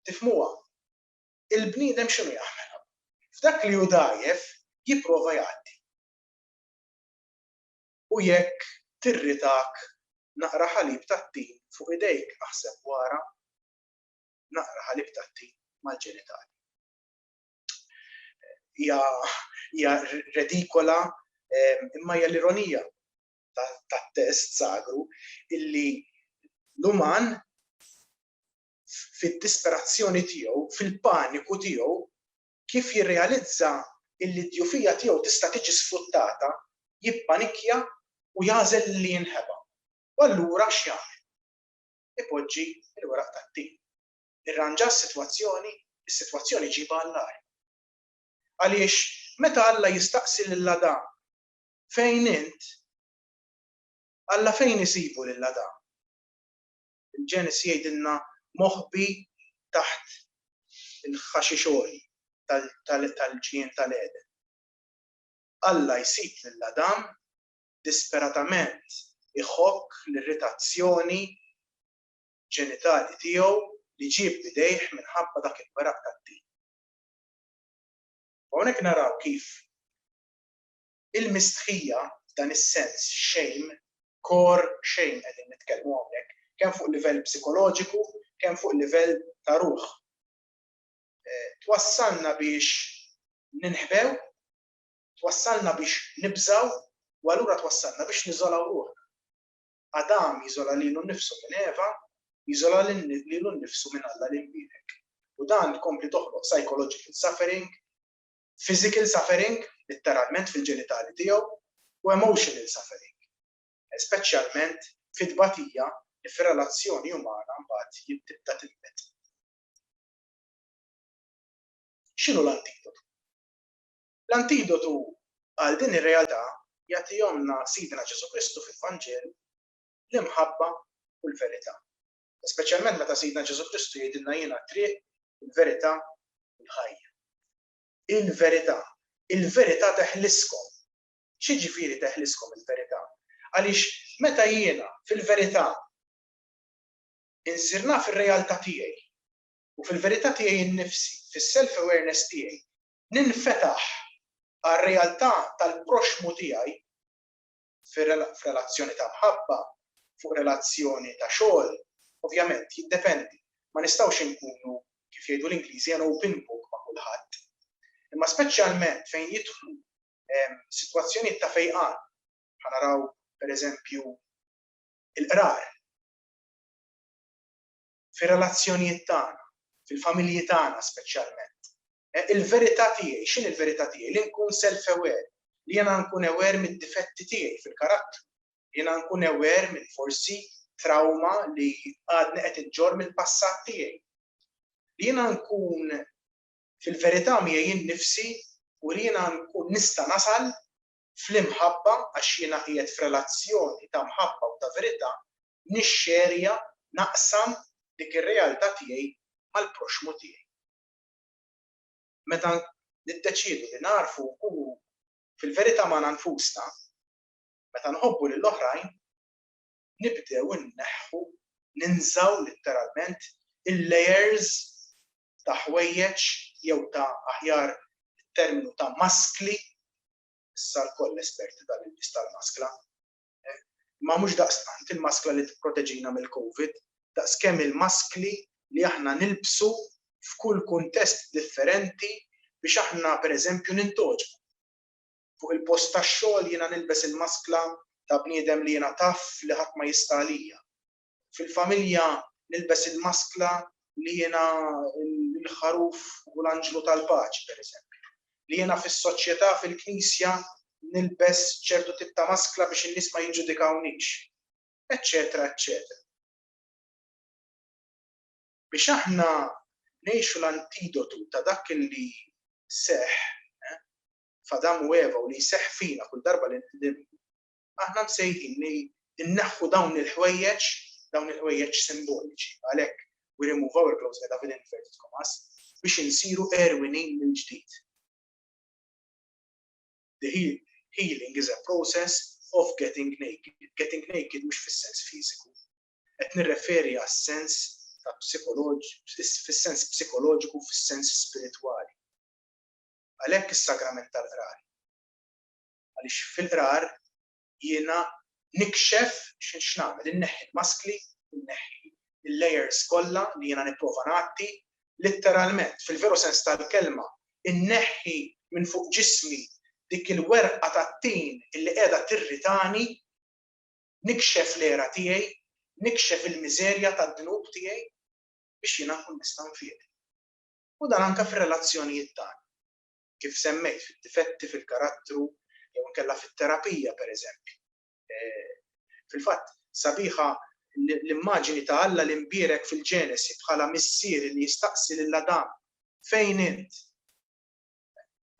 Tifhmuha? Il-bniedem x'inhu jagħmel? F'dak li hu dgħajjef jipprova jgħaddi. U jekk tirritak naqra ħalib tat-tin fuq idejk aħseb wara naqra ħalib tat-tin mal-ġenitali. Hija hija redikola imma hija l-ironija tat-test sagru illi l-uman fid-disperazzjoni tiegħu, fil-paniku tiegħu, kif jirrealizza illi d-djufija tiegħu tista' tiġi sfruttata, jippanikkja u jagħżel li jinħeba. U allura x'jagħmel? Ipoġġi l-weraq tat-tin. Irranġa s-sitwazzjoni? Is-sitwazzjoni jġibha għall-agħar. Għaliex meta Alla jistaqsi lil Adam, Fejn int? Alla fejn isibu lil Adam? Il-Ġenesi jgħidilna moħbi taħt il-ħaxix għoli tal-ġnien tal-Għeden. Alla jsib lil Adam disperatament iħokk l-irritazzjoni ġenitali tiegħu li ġieb b'idejh minħabba dak il-weraq tat-tin. U hawnhekk naraw kif il-mistħija f'dan is-sens, shame, core shame qegħdin nitkellmu hawnhekk, kemm fuq livell psikoloġiku, kemm fuq livell ta' ruħ, twassalna biex ninħbew, twassalna biex nibżgħu u allura twassalna biex niżolaw ruħna. Adam jiżola lilu nnifsu minn Eva, jiżola lilu nnifsu minn Alla l-Imwienek. U dan tkompli toħloq psychological suffering, physical suffering, litteralment fil-ġenitali tiegħu, u emotional suffering, speċjalment fit-tbatija li fir-relazzjoni umana mbagħad tibda tinbet. X'inhu l-antidotu? L-antidotu għal din ir-realtà jagħtihomlna Sidna Ġesù Kristu fil-Vanġelu, l-imħabba u l-verità. Speċjalment meta Sidna Ġesù Kristu jgħidilna jiena t-triq, il-verità u l-ħajja. Il-verità. Il-verità teħliskom. X'jiġifieri teħliskom il-verità? Għaliex meta jiena fil-verità insir naf ir-realtà tiegħi u fil-verità tiegħi nnifsi, fis-self awareness tiegħi, ninfetaħ għar-realtà tal-proxxmu tiegħi, f'relazzjoni ta' mħabba, fuq relazzjoni ta' xogħol, ovvjament jiddependi. Ma nistgħux inkunu, kif jgħidu l-Ingliżi, an open book ma' kulħadd. Imma speċjalment fejn jidħlu sitwazzjonijiet ta' fejqan, bħal naraw pereżempju l-qrar, fir-relazzjonijiet tagħna, fil-familji tagħna speċjalment, Il-verità tiegħi, x'inhi l-verità tiegħi? Li nkun self-aware, li jiena nkun aware mid-difetti tiegħi fil-karattru, li jiena nkun aware minn forsi trawma li għadni qed inġorr mill-passat tiegħi. Li jiena nkun fil-verità miegħi jien nnifsi u li jiena nkun nista' nasal fl-imħabba għax jiena qiegħed f'relazzjoni ta' mħabba u ta' verità nixxerja, naqsam dik ir-realtà tiegħi mal-proxxmu tiegħi. meta niddeċiedu li nagħrfu nkunu fil-verità magħna nfusna, meta nħobbu lil oħrajn, nibdew inneħħu, ninżgħu litteralment, il-layers ta' ħwejjeġ jew ta' aħjar terminu ta' maskli, issa lkoll esperti tal-ilbies tal-maskla, imma mhux daqstant il-maskla li tipproteġina mill-Covid, daqskemm il-maskli li aħna nilbsu f'kull kuntest differenti biex aħna pereżempju nintgħoġbu. Fuq il-post tax-xogħol jiena nilbes il-maskla ta' bniedem li jiena taf li ħadd ma jista' għalija. Fil-familja nilbes il-maskla li jiena l-ħaruf u l-anġlu tal-paċi, pereżempju. Li jiena fis-soċjetà, fil-Knisja, nilbes ċertu tip ta' maskla biex in-nies ma jiġġudikawnix. Eċċetera, eċċetera. Biex aħna ngħixu l-antidotu ta' dak li seħħ f'Adam u Eva u li jseħħ fina kull darba li Aħna msejħin li nneħħu dawn il-ħwejjeġ, dawn il-ħwejjeġ simboliċi, għalhekk we remove our clothes qiegħda fil inverted commas, biex insiru għerwienin mill-ġdid. The healing is a process of getting naked. Getting naked mhux fis-sens fiżiku. Qed nirreferi għas-sens ta' fis-sens psikoloġiku, fis-sens spiritwali. Għalhekk is-sagrament tal-qrar għaliex fil-qrar jiena nikxef x'nagħmel, inneħħi l-maskli, inneħħi l-layers kollha li jiena nipprova ngħatti, litteralment, fil-veru sens tal-kelma, inneħħi minn fuq ġismi dik il-werqa tat-tin li qiegħda tirritani, nikxef l-għera tiegħi, nikxef il-miżerja tad-dnub tiegħi biex jiena nkun nista' nfiq. U dan anke fir-relazzjonijiet tagħna. kif semmejt, fid-difetti fil-karattru jew inkella fit-terapija, pereżempju. Fil-fatt, sabiħa l-immaġini ta' Alla l-Imbierek fil-Ġenesi bħala Missier li jistaqsi lil Adam, Fejn int?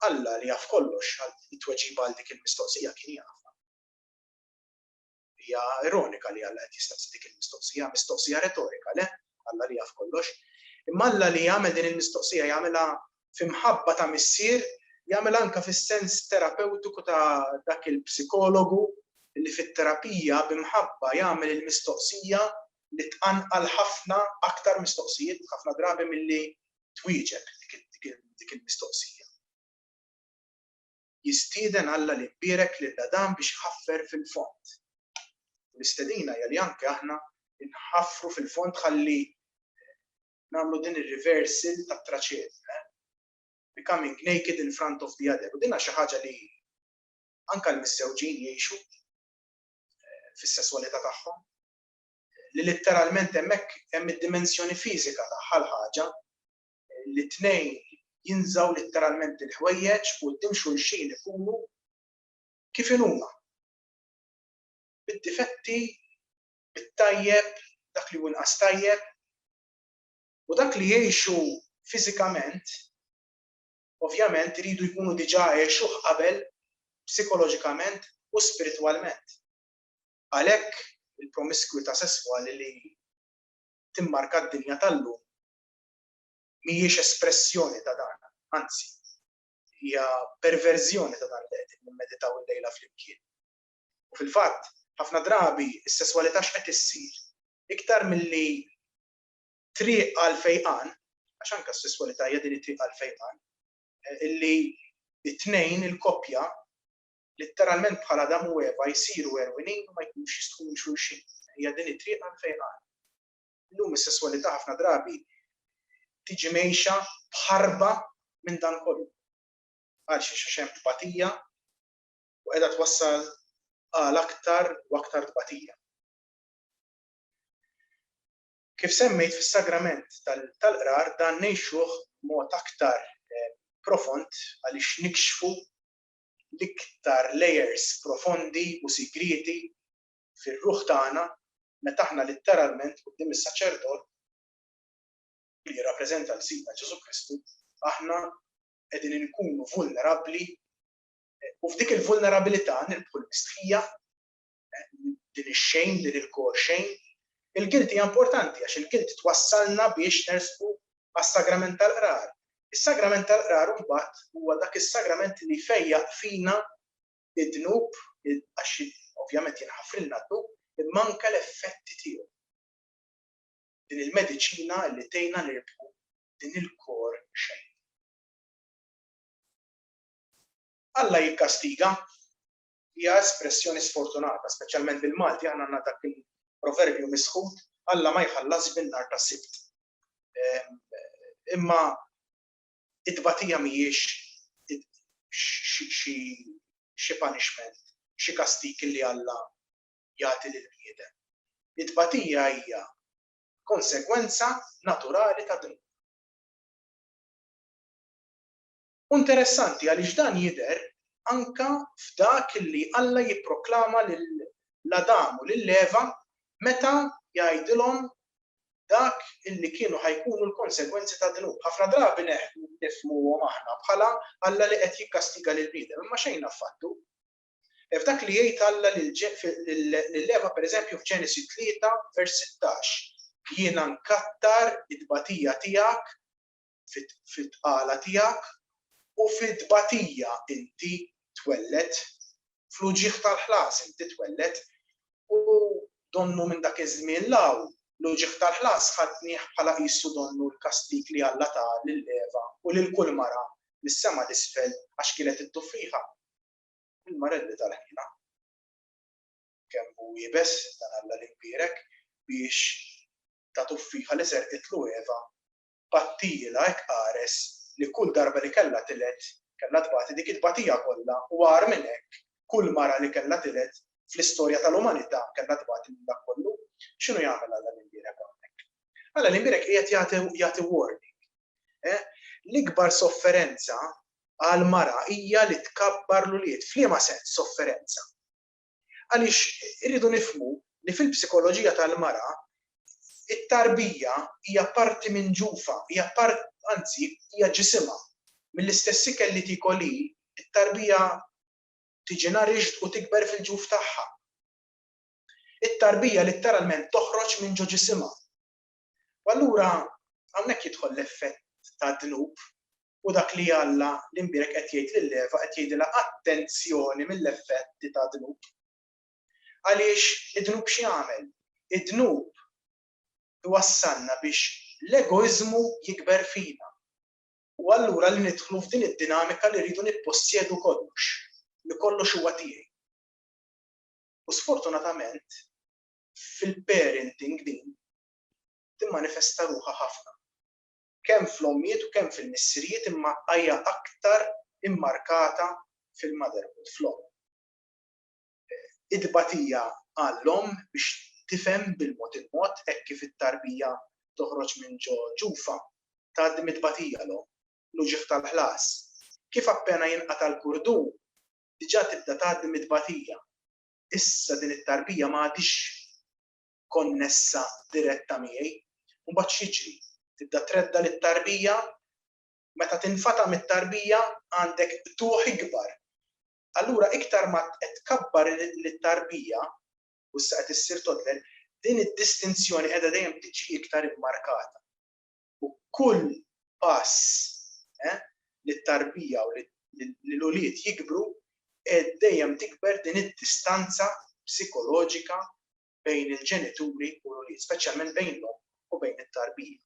Alla li jaf kollox, it-tweġiba għal dik il-mistoqsija kien jafha. Hija ironika li Alla qed jistaqsi dik il-mistoqsija, mistoqsija retorika, le? Alla li jaf kollox. Imma Alla li jagħmel din il-mistoqsija jagħmilha fi mħabba ta' missier, jagħmilha anke fis-sens terapewtiku ta' dak il-psikologu li fit-terapija bi mħabba jagħmel il-mistoqsija li tqanqal ħafna aktar mistoqsijiet ħafna drabi milli twieġeb dik il-mistoqsija. jistieden Alla li jbierek lil Adam biex iħaffer fil-fond. U l-istedina hija li anke aħna nħaffru fil-fond ħalli nagħmlu din ir-reversal tat-traċed, eh? becoming naked in front of the other. U dinha xi ħaġa li anke l-missewġin jgħixu eh, fis-sesswalità tagħhom li litteralment hemmhekk hemm id-dimensjoni fiżika tagħha l-ħaġa li t-tnejn jinżgħu litteralment il-ħwejjeġ quddiem xulxin ikunu kif inhuma. Bid-difetti, bit-tajjeb, dak li hu inqas tajjeb. U dak li jgħixu fiżikament, ovvjament iridu jkunu diġà għexuh qabel psikoloġikament u spiritwalment. Għalhekk il-promiskwità sesswali li timmarka d-dinja tal-lum mhijiex espressjoni ta' dan, anzi, hija perverżjoni ta' dan li qegħdin nimmeditaw illejla flimkien. U fil-fatt, ħafna drabi s-sesswalità x'qed issir? Iktar milli triq għal fejqan, għax anke s-sesswalità hija din it-triq għal fejqan, eh, illi it-tnejn il-koppja litteralment bħala Adam u Eva jsiru erwinin u ma jkunux jistħu xulxin. Hija din it-triq għal fejqan. Illum is-sesswalità ħafna drabi tiġi mgħejxa b'ħarba minn dan kollu. Għalxiex? Għax hemm tbatija u qiegħda twassal għal aktar u aktar tbatija. Kif semmejt fis-sagrament tal-qrar dan ngħixuh b'mod aktar eh, profond għaliex nikxfu l-iktar layers profondi u sigrieti fir-ruħ tagħna meta aħna litteralment quddiem is-saċerdot li jirrappreżenta lil Sidna Ġesù Kristu, aħna qegħdin inkunu vulnerabbli u f'dik il-vulnerabilità nirbħu l-mistħija din ix-xejn, din il-kor xejn. Il-gilt hija importanti għax il-gilt twassalna biex nersqu għas-sagrament tal-qrar. Is-sagrament tal-qrar mbagħad huwa dak is-sagrament li fejjaq fina id-dnub, għax ovvjament jinħafrilna d-dnub, imma anke l-effetti tiegħu. Din il-mediċina li tgħinna nirbħu din il-kor xejn. Alla jikkastiga hija espressjoni sfortunata, speċjalment bil-Malti aħna għandna dak il-proverbju misħut Alla ma jħallas bin-nar ta' sibt. Ehm, imma It-tbatija mhijiex xi punishment, xi kastig li Alla jagħti lill-bniedem. It-tbatija hija konsegwenza naturali tad-dnub. U interessanti għaliex dan jidher anke f'dak li Alla jipproklama lil Adam u lil Eva meta jgħidilhom dak li kienu ħa jkunu l-konsegwenzi ta' dnub. Ħafna drabi neħdu nifhmuhom aħna bħala Alla li qed jikkastiga lill-bniedem, imma xejn affattu. F'dak li jgħid Alla lil Eva, pereżempju f'Ġenesi tlieta vers sittax, Jiena nkattar it-tbatija tiegħek fit-tqala tiegħek, u fit-tbatija inti twelled, fl-uġigħ tal-ħlas inti twelled. U donnu minn dak iż-żmien 'l hawn, l-uġigħ tal-ħlas ħadnih bħala qisu donnu l-kastig li Alla ta lil Eva u lil kull mara mis-sema 'l isfel għax kienet idduffiha. Il-marelli tal-ħniena. Kemm hu iebes dan Alla l-Imbierek biex ta duffiha li serqitlu Eva battijielha hekk qares li kull darba li kellha tiled kellha tbati dik it-tbatija kollha u agħar minn hekk kull mara li kellha tiled fl-istorja tal-umanità kellha tbati minn dak kollu. X'inhu jagħmel Alla l-imbierek hawnhekk? Alla l-imbierek qiegħed jagħti jagħti warning. Eh? L-ikbar sofferenza għal mara hija li tkabbar l-ulied. F'liema sens sofferenza? Għaliex irridu nifhmu li fil-psikoloġija tal-mara t-tarbija hija parti minn ġufha, hija part, anzi, hija ġisimha. Mill-istess ikel li tiekol hi, it-tarbija tiġi nourished u tikber fil-ġuf tagħha. It-tarbija litteralment toħroġ minn ġo ġisimha. U allura hawnhekk jidħol l-effett tad-dnub u dak li Alla l-imbierek qed jgħid lil Eva qed jgħidilha attenzjoni mill-effetti tad-dnub. Għaliex id-dnub x'jagħmel? Id-dnub iwassalna biex l-egoiżmu jikber fina. U allura li nidħlu f'din id-dinamika li rridu nippossjedu kollox, li kollox huwa tiegħi. U sfortunatament fil-parenting din timmanifesta ruħha ħafna. Kemm fl-ommijiet u kemm fil-missirijiet imma hija aktar immarkata fil-motherhood, fl-omm. It-tbatija għall-omm biex tifhem bil-mod il-mod hekk kif it-tarbija toħroġ minn ġo ġufa, tgħaddi mit-tbatija l-omm, l-uġigħ tal-ħlas. Kif appena jinqata' l-kurdun, diġà tibda tgħaddi mit-tbatija. issa din it-tarbija ma għadhiex konnessa diretta miegħi. U mbagħad x'jiġri? Tibda tredda lit-tarbija, meta tinfata' mit-tarbija għandek qtugħ ikbar. Allura iktar ma qed tkabbar lit-tarbija u issa qed issir toddler, din id-distinzjoni qiegħda dejjem tiġi iktar immarkata. u kull pass eh, li t-tarbija u li l-ulied jikbru qed dejjem tikber din id-distanza psikoloġika bejn il-ġenituri u l-ulied, speċjalment bejn l-omm u bejn it-tarbija.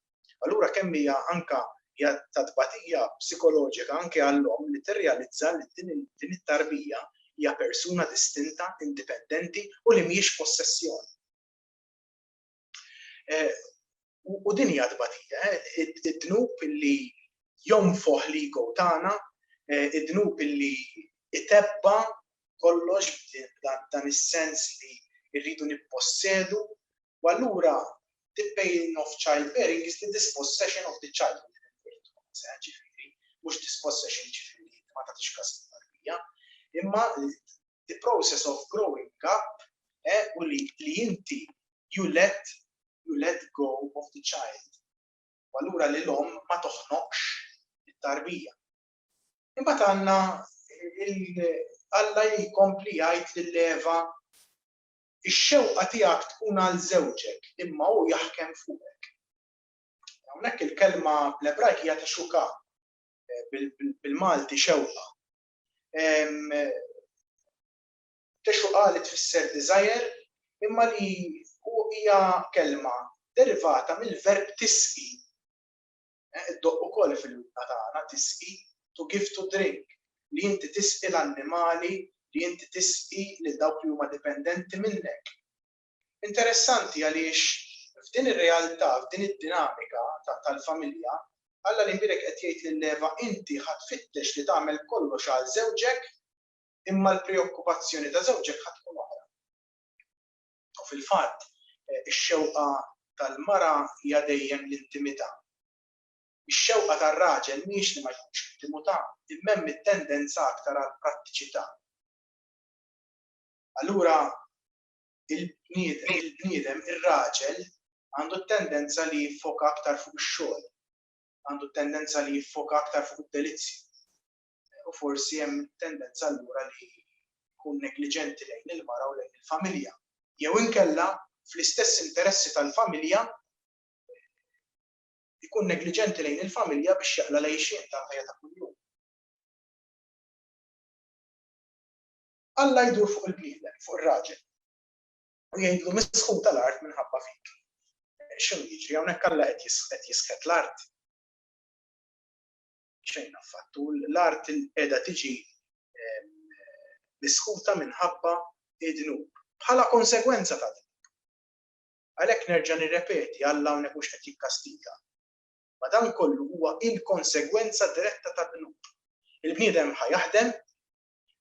Allura kemm hija anka hija ta' tbatija psikoloġika anke għall-omm li tirrealizza li din it-tarbija hija persuna distinta, indipendenti u li mhijiex possessjoni. U din hija tbatija, eh? id-dnub li jonfoħ li go tagħna, eh, id-dnub li itebba kollox dan is-sens li rridu nippossedu, u allura the pain of childbearing is the dispossession of the child. Ġifiri, mux dispossession ġifiri, ma ta' tixkas tarbija, imma the process of growing up eh, u li li inti you let you let go of the child. Allura li l-om ma toħnoqx it-tarbija. Imbagħad għandna Alla jkompli jgħid lil Eva ix-xewqa tiegħek tkun għal żewġek imma hu jaħkem fuqek. Hawnhekk il-kelma bl-Ebrajk hija ta' xuka eh, bil-Malti xewqa. Texuqa li tfisser desire imma li hija kelma derivata mill-verb tisqi. Eh, Iddoqq ukoll fil-wibna tagħna tisqi to give to drink li inti tisqi l-annimali, li inti tisqi lil dawk li huma dipendenti minnek. Interessanti għaliex f'din ir-realtà, f'din id-dinamika tal-familja, Alla li nbierek qed jgħid lil Eva, inti ħa tfittex li tagħmel kollox għal żewġek, imma l-preokkupazzjoni ta' żewġek ħa tkun oħra. U fil-fatt, ix-xewqa tal-mara hija dejjem l-intimità. Ix-xewqa tar-raġel mhijiex li ma jkunx intimu ta', imma hemm it-tendenza aktar għall-prattiċità. Allura, il-bniedem, ir-raġel, għandu t-tendenza li jiffoka aktar fuq ix-xogħol, għandu t-tendenza li jiffoka aktar fuq id-delizzju. U forsi hemm tendenza allura li jkun negliġenti lejn il-mara u lejn il-familja. Jew inkella fl-istess interessi tal-familja jkun negliġenti lejn il-familja biex jaqla lejxin tal-ħajja ta' kuljum. Alla jdur fuq il-bniedem, fuq ir-raġel, u jgħidlu misħun tal-art minħabba fik. X'inhu jiġri hawnhekk Alla qed jisħet l-art? Xejn affattu, l-art qiegħda tiġi misħuta minħabba d-dnub, bħala konsegwenza tad-dnub. Għalhekk nerġa' nirrepeti, Alla hawnhekk mhux qed jikkastiga. Madankollu huwa il-konsegwenza diretta tad-dnub. Il-bniedem ħa jaħdem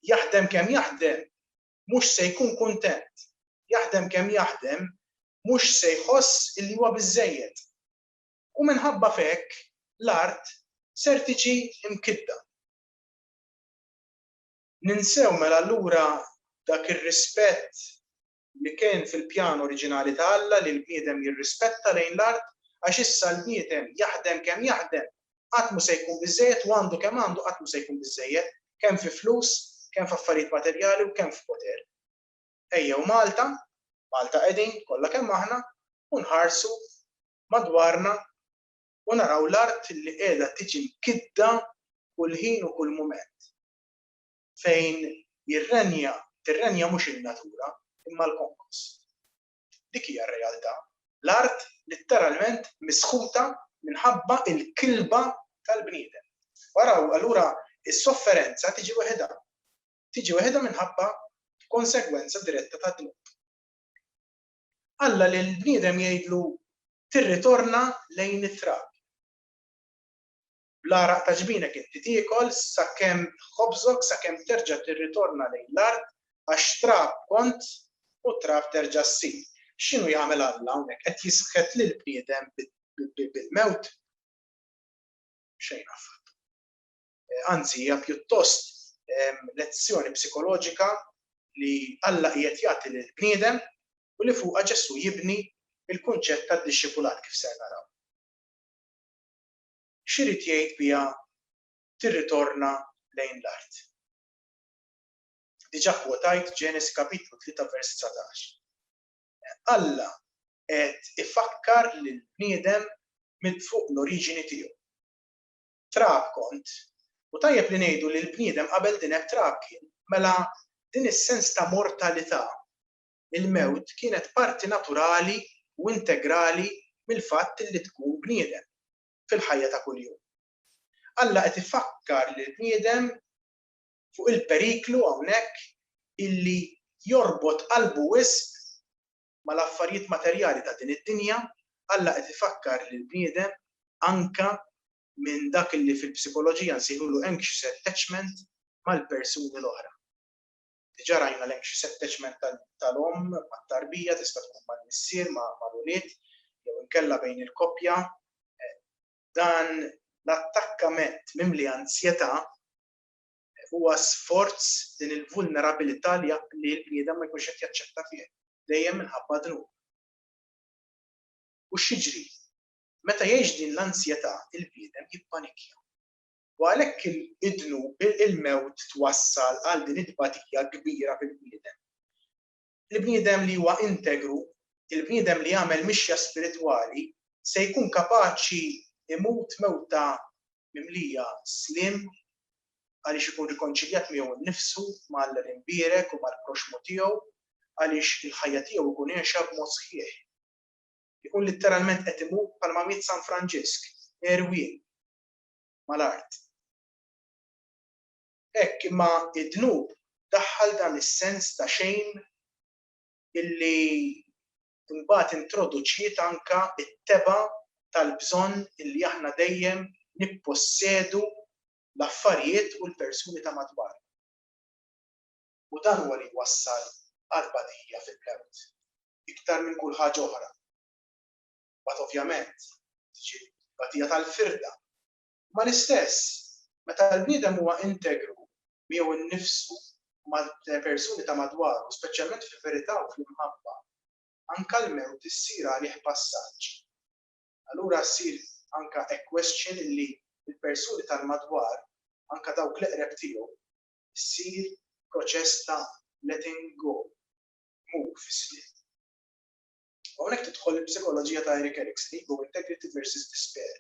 Jaħdem kemm jaħdem, mhux se jkun kuntent. Jaħdem kemm jaħdem, mhux se jħoss illi huwa biżżejjed. U minħabba f'hekk, l-art ser tiġi mkiddha. Ninsew mela allura dak ir-rispett li kien fil-pjan oriġinali ta' Alla li l-bniedem jirrispetta lejn l-art, għax issa l-bniedem, jaħdem kemm jaħdem, qatt mhu se jkun biżżejjed u għandu kemm għandu qatt mhu se jkun biżżejjed, kemm fi flus, kemm f'affarijiet materjali u kemm f'poter. Ejjew Malta, Malta qegħdin, kollha kemm aħna, u nħarsu madwarna u naraw l-art li qiegħda tiġi mkiddha kull ħin u kull mument. fejn jirrenja, tirrenja mhux in-natura, imma l-konkos. Dik hija r-realtà. L-art litteralment misħuta minħabba l-kilba tal-bniedem. U araw, allura s-sofferenza tiġi weħidha. Tiġi weħidha minħabba konsegwenza diretta tad-dnub. Alla lill-bniedem jgħidlu tirritorna lejn it-trab. Bl-għaraq ta' ġbinek inti tiekol sakemm ħobżok sakemm terġa' tirritorna lejn l-art għax trab kont u trab terġa' ssir. X'inhu jagħmel Alla hawnhekk? Qed jisħet lill-bniedem bil-mewt? Xejn affattu. Anzi hija pjuttost lezzjoni psikoloġika li Alla qiegħed jagħti lill-bniedem u li fuqha Ġesù jibni l-kunċett tad-dixxipulat kif ser naraw. x'irid jgħid biha tirritorna lejn l-art. Diġà kkwotajt Ġenesi kapitlu tlieta vers dsatax. Alla qed ifakkar lill-bniedem minn fuq l-oriġini tiegħu. Trab kont, u tajjeb li ngħidu li l-bniedem qabel din hekk trab kien, mela din is-sens ta' mortalità il-mewt kienet parti naturali u integrali mill-fatt li tkun bniedem fil-ħajja ta' kuljum. Alla qed ifakkar lill-bniedem fuq il-periklu hawnhekk illi jorbot qalbu wisq mal-affarijiet materjali ta' din id-dinja, Alla qed ifakkar lill-bniedem anke minn dak illi fil-psikoloġija nsejħulu anxious attachment mal-persuni l-oħra. Diġà rajna li hemm xi setteġment tal-omm mat-tarbija, tista' tkun mal-missier, mal-ulied, jew inkella bejn il-koppja. Dan l-attakkament mimli anzjetà huwa sforz din il-vulnerabilità li l-bniedem ma jkunx qed jaċċetta fih, dejjem minħabba d-dnub. U x'jiġri? Meta jgħix din l-anzjetà, il-bniedem jippanikja. u għalhekk id-dnub, il-mewt twassal għal din it-tbatija kbira fil-bniedem. Il-bniedem li huwa integru, il-bniedem li jagħmel mixja spiritwali, se jkun kapaċi jmut mewta mimlija sliem għaliex ikun rikonċiljat miegħu nnifsu, mal-imbierek u mal-proxxmu tiegħu, għaliex il-ħajja tiegħu jkun għiexha b'mod sħiħ. Ikun litteralment qed imut bħalma miet San Franġisk, għerwien. mal-art. Hekk imma d-dnub daħħal dan is-sens ta' xejn illi mbagħad introduċiet anke t-tebgħa tal-bżonn illi aħna dejjem nippossedu l-affarijiet u l-persuni ta' madwarna. U dan huwa li jwassal għat-tbatija fil-mewt iktar minn kull ħaġa oħra. mbagħad ovvjament tiġi t-tbatija tal-firda. Imma l-istess, meta l-bniedem huwa integru miegħu nnifsu u mal-persuni ta' madwaru, speċjalment fil-verità u fl-imħabba, anke l-mewt issir għalih passaġġ. Allura ssir anke a question li l-persuni tal-madwar, anke dawk l-eqreb tiegħu, issir proċess ta' letting go, tmur fis-sliet. Hawnhekk tidħol il-psikoloġija ta' Eric Erickson, Ego, Integrity versus Despair.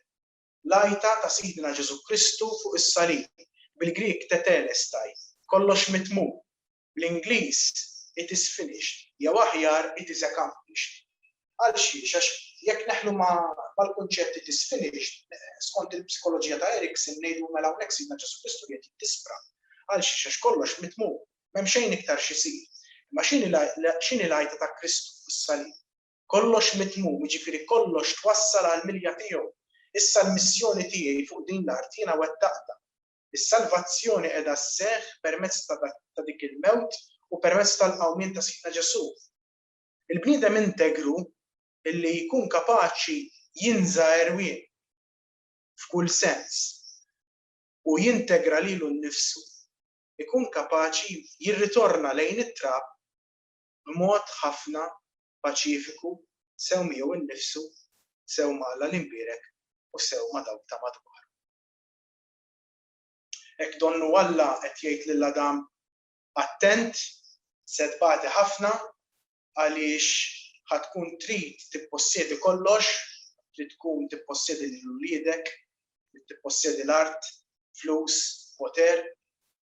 L-għajta ta' Sidna Ġesù Kristu fuq is-salib, bil-Grieg tetelestai, kollox mitmum, bl-Ingliż it is finished, jew aħjar it is accomplished. Għal xiex? Għax jekk neħlu mal-kunċett it is finished, skont il-psikoloġija ta' Erickson ngħidu mela hawnhekk Sidna Ġesù Kristu qiegħed jiddispra. Għal xiex? Għax kollox mitmum. M'hemm xejn iktar x'isir. Imma x'inhi l-għajta ta' Kristu fuq is-salib? Kollox mitmum, jiġifieri kollox twassal għall-milja tiegħu. Issa l-missjoni tiegħi fuq din l-art jiena wettaqtha. Is-salvazzjoni qiegħda sseħħ permezz ta' dik il-mewt u permezz tal-qawmien ta' Sidna Ġesù. Il-bniedem integru li jkun kapaċi jinża' għerwien f'kull sens u jintegra lilu nnifsu ikun kapaċi jirritorna lejn it-trab b'mod ħafna paċifiku sew miegħu nnifsu, sew ma' Alla l-Imbierek u sew ma' dawk ta' madwaru. Hekk donnu Alla qed jgħid lil Adam, Attent, se tbati ħafna, għaliex ħa tkun trid tippossjedi kollox, trid tkun tippossjedi lil uliedek, trid tippossjedi l-art, flus, poter,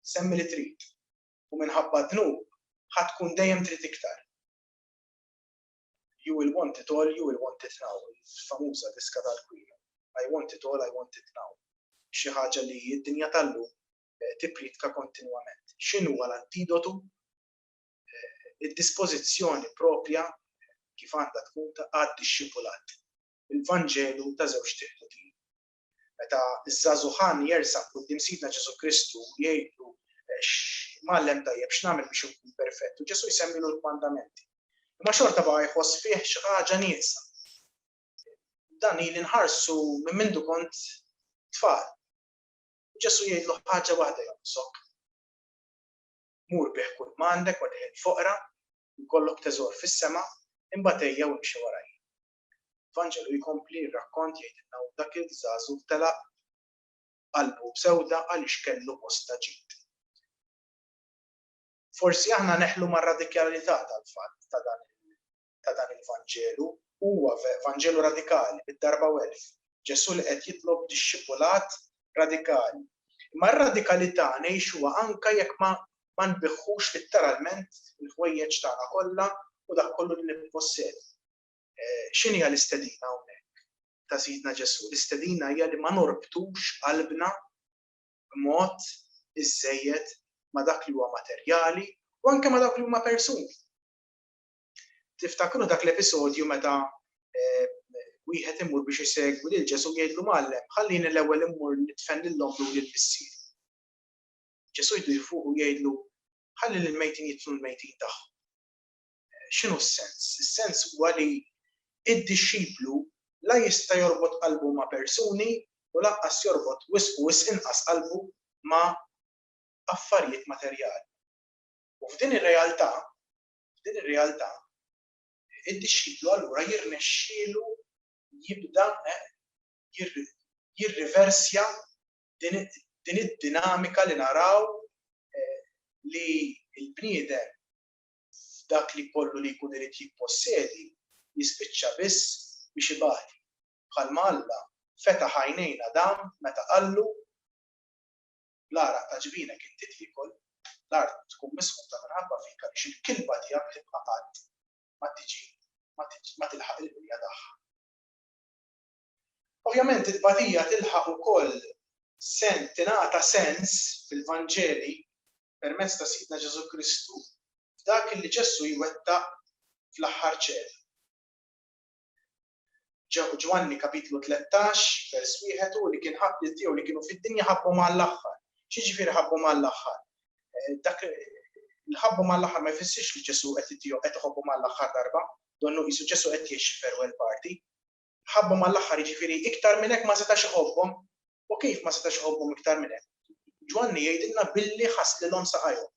semmi li trid. U minħabba d-dnub ħa tkun dejjem trid iktar. You will want it all, you will want it now, il-famuża diska tal-Queen. I want it all, I want it now. Xi ħaġa li d-dinja tal-lum eh, tipritka kontinwament. X'inhu l-antidotu id-dispożizzjoni proprja kif għandha tkun ta' għad-dixxipulat, il-Vanġelu ta' żewġt il-ħutin. Meta ż-żagħżugħan jersaq quddiem Sidna Ġesù Kristu u jgħidlu, Mgħallem tajjeb, x'nagħmel biex inkun perfett? U Ġesù jsemmilu l-kmandamenti. Imma xorta baqa' jħoss fih xi ħaġa nieqsa. Dan ili nħarsu minn mindu kont tfal. Ġesù jgħidlu ħaġa waħda jonqsok. mur bigħ kull m'għandek u tgħin il-foqra, jkollok teżor fis-sema, imbagħad ejja u imxi warajja. L-Vanġelu jkompli r-rakkont jgħidilna u dak il-żagħżugħ telaq qalbu b'sewda għaliex kellu bosta ġid. Forsi aħna neħlu mar-radikalità tal-fatt ta' dan ta' dan il-Vanġelu huwa Vanġelu radikali, bid-darba u elf. Ġesù li qed jitlob dixxipulat radikali. Imma r-radikalità ngħixuha anke jekk ma ma nbiħħux litteralment il-ħwejjeġ tagħna kollha u dak kollu li nippossedi. X'inhija l-istedina hawnhekk ta' Sidna Ġesù? L-istedina hija li ma norbtux qalbna b'mod iżżejjed ma' dak li huwa materjali u anke ma' dawk li huma persuni. Tiftakru dak l-episodju meta wieħed imur biex isegwi lil Ġesù jgħidlu Mgħallem, ħallini l-ewwel immur nidfen lil ommi u lil missiri. Ġesù jdur fuq u jgħidlu ħalli lil mejtin jidfnu l-mejtin tagħhom. X'inhu s-sens? Is-sens huwa li id-dixxiplu la jista' jorbot qalbu ma' persuni u lanqas jorbot wisq u wisq inqas qalbu ma' affarijiet materjali. U f'din ir-realtà F'din ir-realtà, id-dixxiplu allura jirnexxielu jibda jirriversja din id-dinamika li naraw li l-bniedem f'dak li kollu li jkun irid jippossedi jispiċċa biss biex ibati, bħalma Alla fetaħ għajnejn Adam meta qallu, l-għaraq ta' ġbinek inti tiekol, l-art tkun misħuta minħabba fik għaliex il-kilba tiegħek tibqa' qatt ma tiġi ma tilħaq il-qrija tagħha. Ovvjament it-tbatija tilħaq ukoll sens tingħata sens fil-Vanġeli permezz ta' Sidna Ġesù Kristu f'dak li Ġesù jwettaq fl-aħħar ċena. Ġwanni kapitlu tlettax, vers wieħed hu li kien ħabb lil tiegħu li kienu fid-dinja ħabbhom għall-aħħar. X'jiġifieri ħabbhom għall-aħħar? Eh, dak li ħabbhom għall-aħħar ma jfissirx li Ġesu qed itihom qed iħobbhom għall-aħħar darba, donnu qisu Ġesu qed jgħix farewell party. Ħabbhom għall-aħħar jiġifieri iktar minn hekk ma setax iħobbhom. U kif ma setax iħobbhom iktar minn hekk? Ġwanni jgħidilna billi ħass lilhom saqajhom.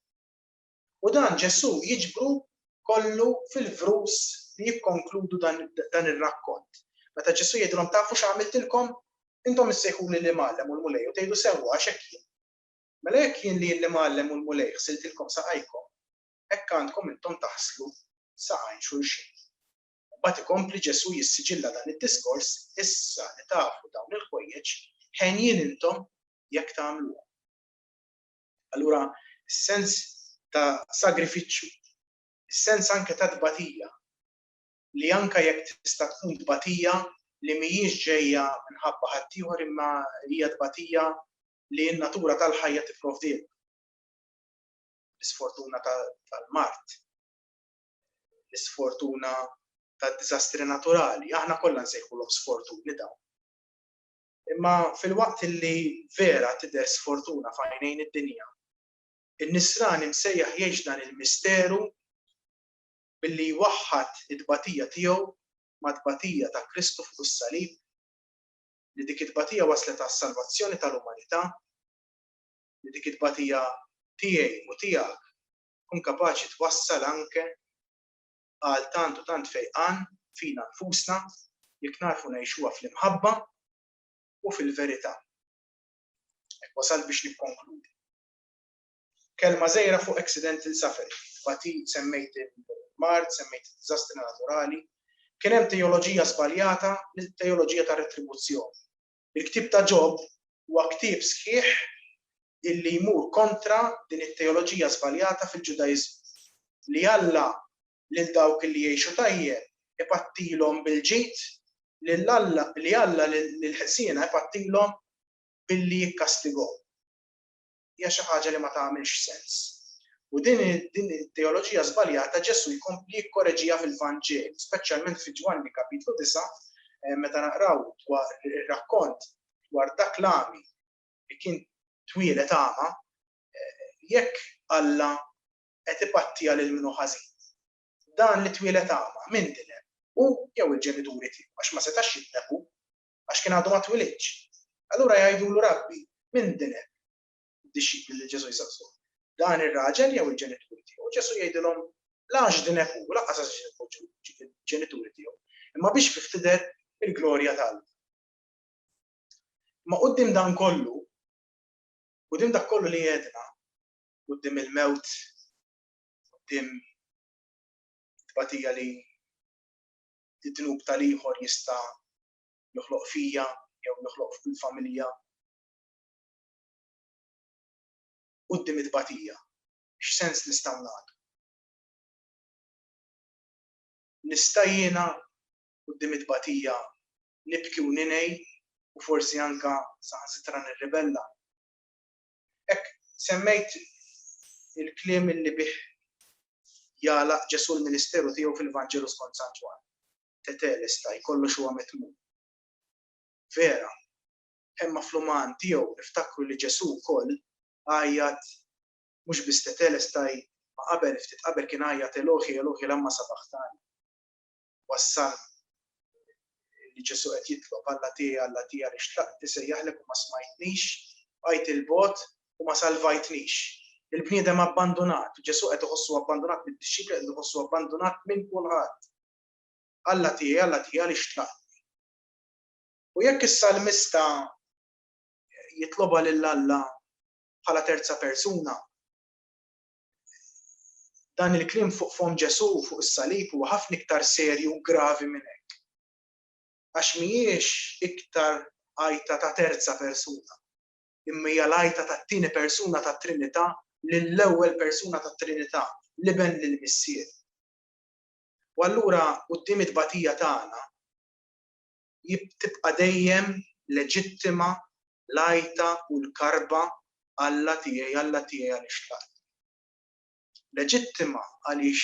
u dan Ġesù jiġbru kollu fil-vrus li jikkonkludu dan ir-rakkont. Meta Ġesù jgħidilhom tafu x'għamiltilkom? Intom issejħuli l-Imgħallem u l-Mulej u tgħidu sewwa għax hekk jien. Mela jekk jien li l-Imgħallem u l-Mulej ħsiltilkom saqajkom, hekk għandkom intom taħslu saqajn xulxin. Imbagħad ikompli Ġesù jissiġilla dan id-diskors, issa li tafu dawn il-ħwejjeġ, henjin intom jekk tagħmluhom. Allura s-sens ta' sagrifiċċju, is-sens anke ta' tbatija, li anke jekk tista' tkun tbatija li mhijiex ġejja minħabba ħaddieħor imma hija tbatija li n-natura tal-ħajja tipprovdilna. L-isfortuna tal-mard, l-isfortuna tad-diżastri naturali, aħna kollha nsejħulhom sfortuni dawn. Imma filwaqt li vera tidher sfortuna f'għajnejn id-dinja, in-nisrani msejjaħ jgħix dan il-misteru billi jwaħħad it-tbatija tiegħu mat-tbatija ta' Kristu fuq is-salib, li dik it-tbatija wasslet għas-salvazzjoni tal-umanità, li dik it-tbatija tiegħi u tiegħek tkun kapaċi twassal anke għal tant u tant fejqan fina nfusna jekk narfu ngħixuha fl-imħabba u fil-verità. Hekk wasalt biex nikkonkludi. Kelma żgħira fuq accidental suffering, batit semmejt il-mard, semmejt il-diżastri naturali, kien hemm teoloġija żbaljata, teoloġija ta' retribuzzjoni. Il-ktieb ta' Ġob huwa ktieb sħiħ illi jmur kontra din it-teoloġija żbaljata fil-Ġudaiżmu li Alla lil dawk li jgħixu tajjeb ipattilhom bil-ġid li Alla lill-ħżiena jpattilhom billi jikkastigahom. hija xi ħaġa li ma tagħmilx sens. U din it-teoloġija żbaljata Ġesù jkompli jikkoreġiha fil-Vanġelu, speċjalment fi Ġwanni kapitlu 9, eh, meta naqraw dwar ir-rakkont dwar dak l-għami li kien twielet għama, eh, jekk Alla qed ipattija lil minnu ħażin. Dan li twielet għama minn din hemm u jew il-ġenituri tiegħu għax ma setax jitneħu għax kien għadu ma twilidx. Allura jgħidulu, Rabbi, min din hemm? Id-dixxipli lil Ġesù jsaqsuh, Dan ir-raġel jew il-ġenituri tiegħu? Ġesù jgħidilhom, La x'din hemm hu, lanqas għax din hu l-ġenituri tiegħu, imma biex fih tidher il-glorja ta' Alla. Imma quddiem dan kollu, quddiem dak kollu li għedna, quddiem il-mewt, quddiem tbatija li id-dnub tal-ieħor jista' joħloq fija jew joħloq fil-familja. Quddiem it-tbatija, x'sens nistgħu nagħtu? Nista' jiena quddiem it-tbatija nibki u ninegħi u forsi anke saħansitra nirribella? Hekk semmejt il-kliem li bih jagħlaq Ġesù l-ministeru tiegħu fil-Vanġelu skont San Ġwann, Tetelestai, kollox huwa mitmum. Vera, imma fl-uman tiegħu niftakru li Ġesù wkoll għajjat mhux biss Tetelestai, ma qabel, ftit qabel kien għajjat Elohi, Elohi lamma sabaħtani. wassalni li Ġesù qed jitlob, Alla tiegħi, Alla tiegħi għaliex tlaqt isejjaħlek u ma smajtnix, bqajt 'il bogħod u ma salvajtnix. Il-bniedem abbandunat, Ġesù qed iħossu abbandunat mid-dixxipli qed iħossu abbandunat minn kulħadd. Alla tiegħi, Alla tiegħi għaliex tlaqtni. U jekk is-salmista jitlobha lil Alla bħala terza persuna, Dan il-kliem fuq fomm Ġesù fuq is-salib huwa ħafna iktar serju u gravi minn hekk. Għax mhijiex iktar għajta ta' terza persuna, imma hija l-għajta tat-tieni persuna tat-Trinità lill-ewwel persuna tat-Trinità, l-Iben lill-Missier. U allura quddiem it-tbatija tagħna, tibqa' dejjem leġittima l-għajta u l-karba Alla tiegħi, Alla tiegħi għaliex tlaqtni. Leġittima għaliex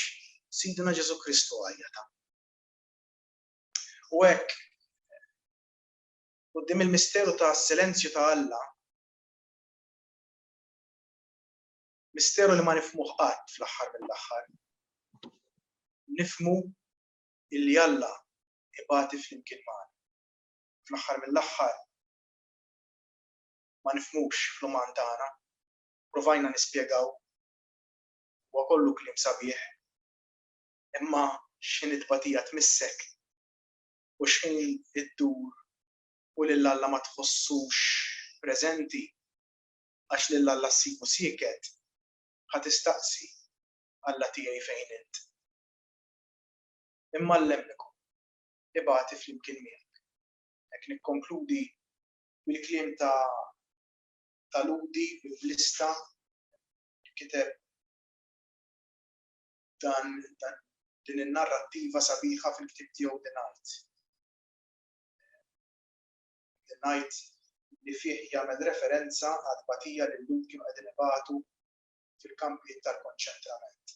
Sidna Ġesù Kristu għajjatha. U hekk quddiem il-misteru ta' silenzju ta' Alla, misteru li ma nifmuh qatt fl-aħħar mill-aħħar, nifmu illi Alla ibati flimkien magħna. Fl-aħħar mill-aħħar ma nifhmux fl-uman tagħna. Provajna nispjegaw huwa kollu kliem sabiħ imma x'ħin it-tbatija tmissek u x'ħin iddur u lil Alla ma tħossux preżenti għax lil Alla ssibu sieket, ħa tistaqsi, Alla tiegħi fejn int? imma l-lemmikom, ibati flimkien miegħek. Hekk nikkonkludi bil-kliem ta' ta' Lhudi Biblista li kiteb dan din in-narrattiva sabiħa fil-ktieb tiegħu The Night. The Night li fih jagħmel referenza għal tbatija li l-Lhud kienu qegħdin ibatu fil-kampijiet tal-konċentrament.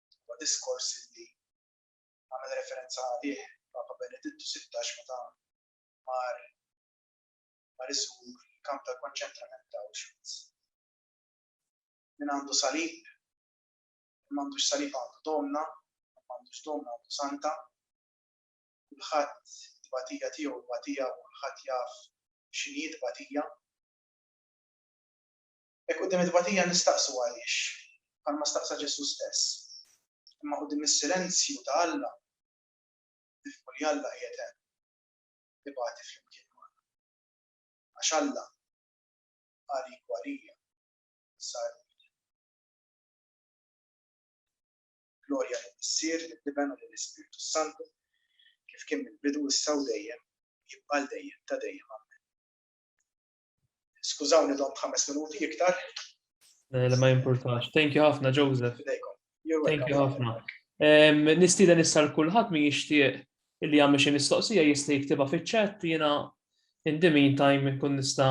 huwa diskors li għamel referenza għalih Papa Benedittu 16 meta mar mar iżur il-kamp tal-konċentrament ta' Auschwitz. Min għandu salib, m'għandux salib għandu domna, m'għandux domna għandu santa, kulħadd batija tiegħu batija u kulħadd jaf x'inhi batija. Hekk quddiem it-tbatija nistaqsu għaliex, bħalma staqsa Ġesù stess. Imma quddiem is-silenzju ta' Alla, nifhmu li Alla qiegħed hemm, ibati flimkien magħna. Għax Alla, għalik u għalija, sar umild. Glorja lill-Missier, lill-Iben u lill-Ispirtu s-Santu, kif kien mill-bidu, issa u dejjem, jibqa' għal dejjem ta' dejjem. Ammen. Skużawni dom ħames minuti iktar. Eh, ma jimpurtax. Thank you ħafna, Joseph. Thank you ħafna. Nistida nissar kulħadd min jixtieq illi għamil xi mistoqsija jista' jiktibha fiċ-chat jiena in the meantime kun nista'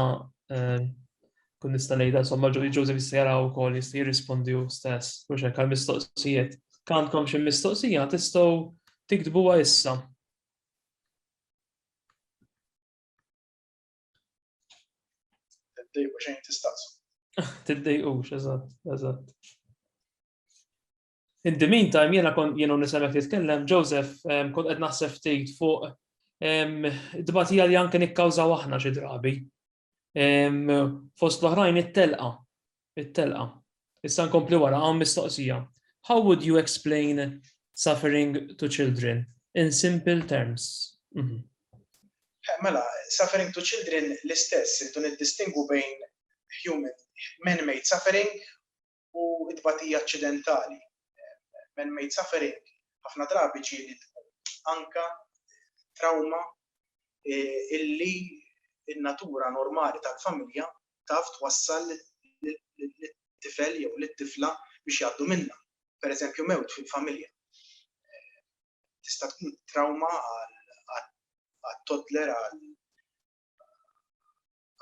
kun nista' ngħidha somma Joseph jista' jara wkoll jista' jirrispondi hu stess mhux hekk għal mistoqsijiet. Kantkom xi mistoqsija tistgħu tiktbuha issa. Tiddejqu xejn tistaqsu. Tiddejqux, eżatt, eżatt. In the meantime, jena kon jena nisemek jitkellem, Joseph, kont qed naħseb ftit fuq d-batija li anke nikkawżaw aħna xi drabi. Fost l-oħrajn it-telqa. It-telqa. Issa nkompli wara, hawn mistoqsija, How would you explain suffering to children in simple terms? Mhm. Mela, suffering to children l-istess, irridu niddistingwu bejn human, man-made suffering u t-tbatija aċċidentali. Man-made suffering ħafna drabi ġieli tkun anka trawma illi n-natura normali tal-familja taf twassal lit-tifel jew lit-tifla biex jgħaddu minnha. Pereżempju mewt fil-familja. Tista' tkun trawma għat-toddler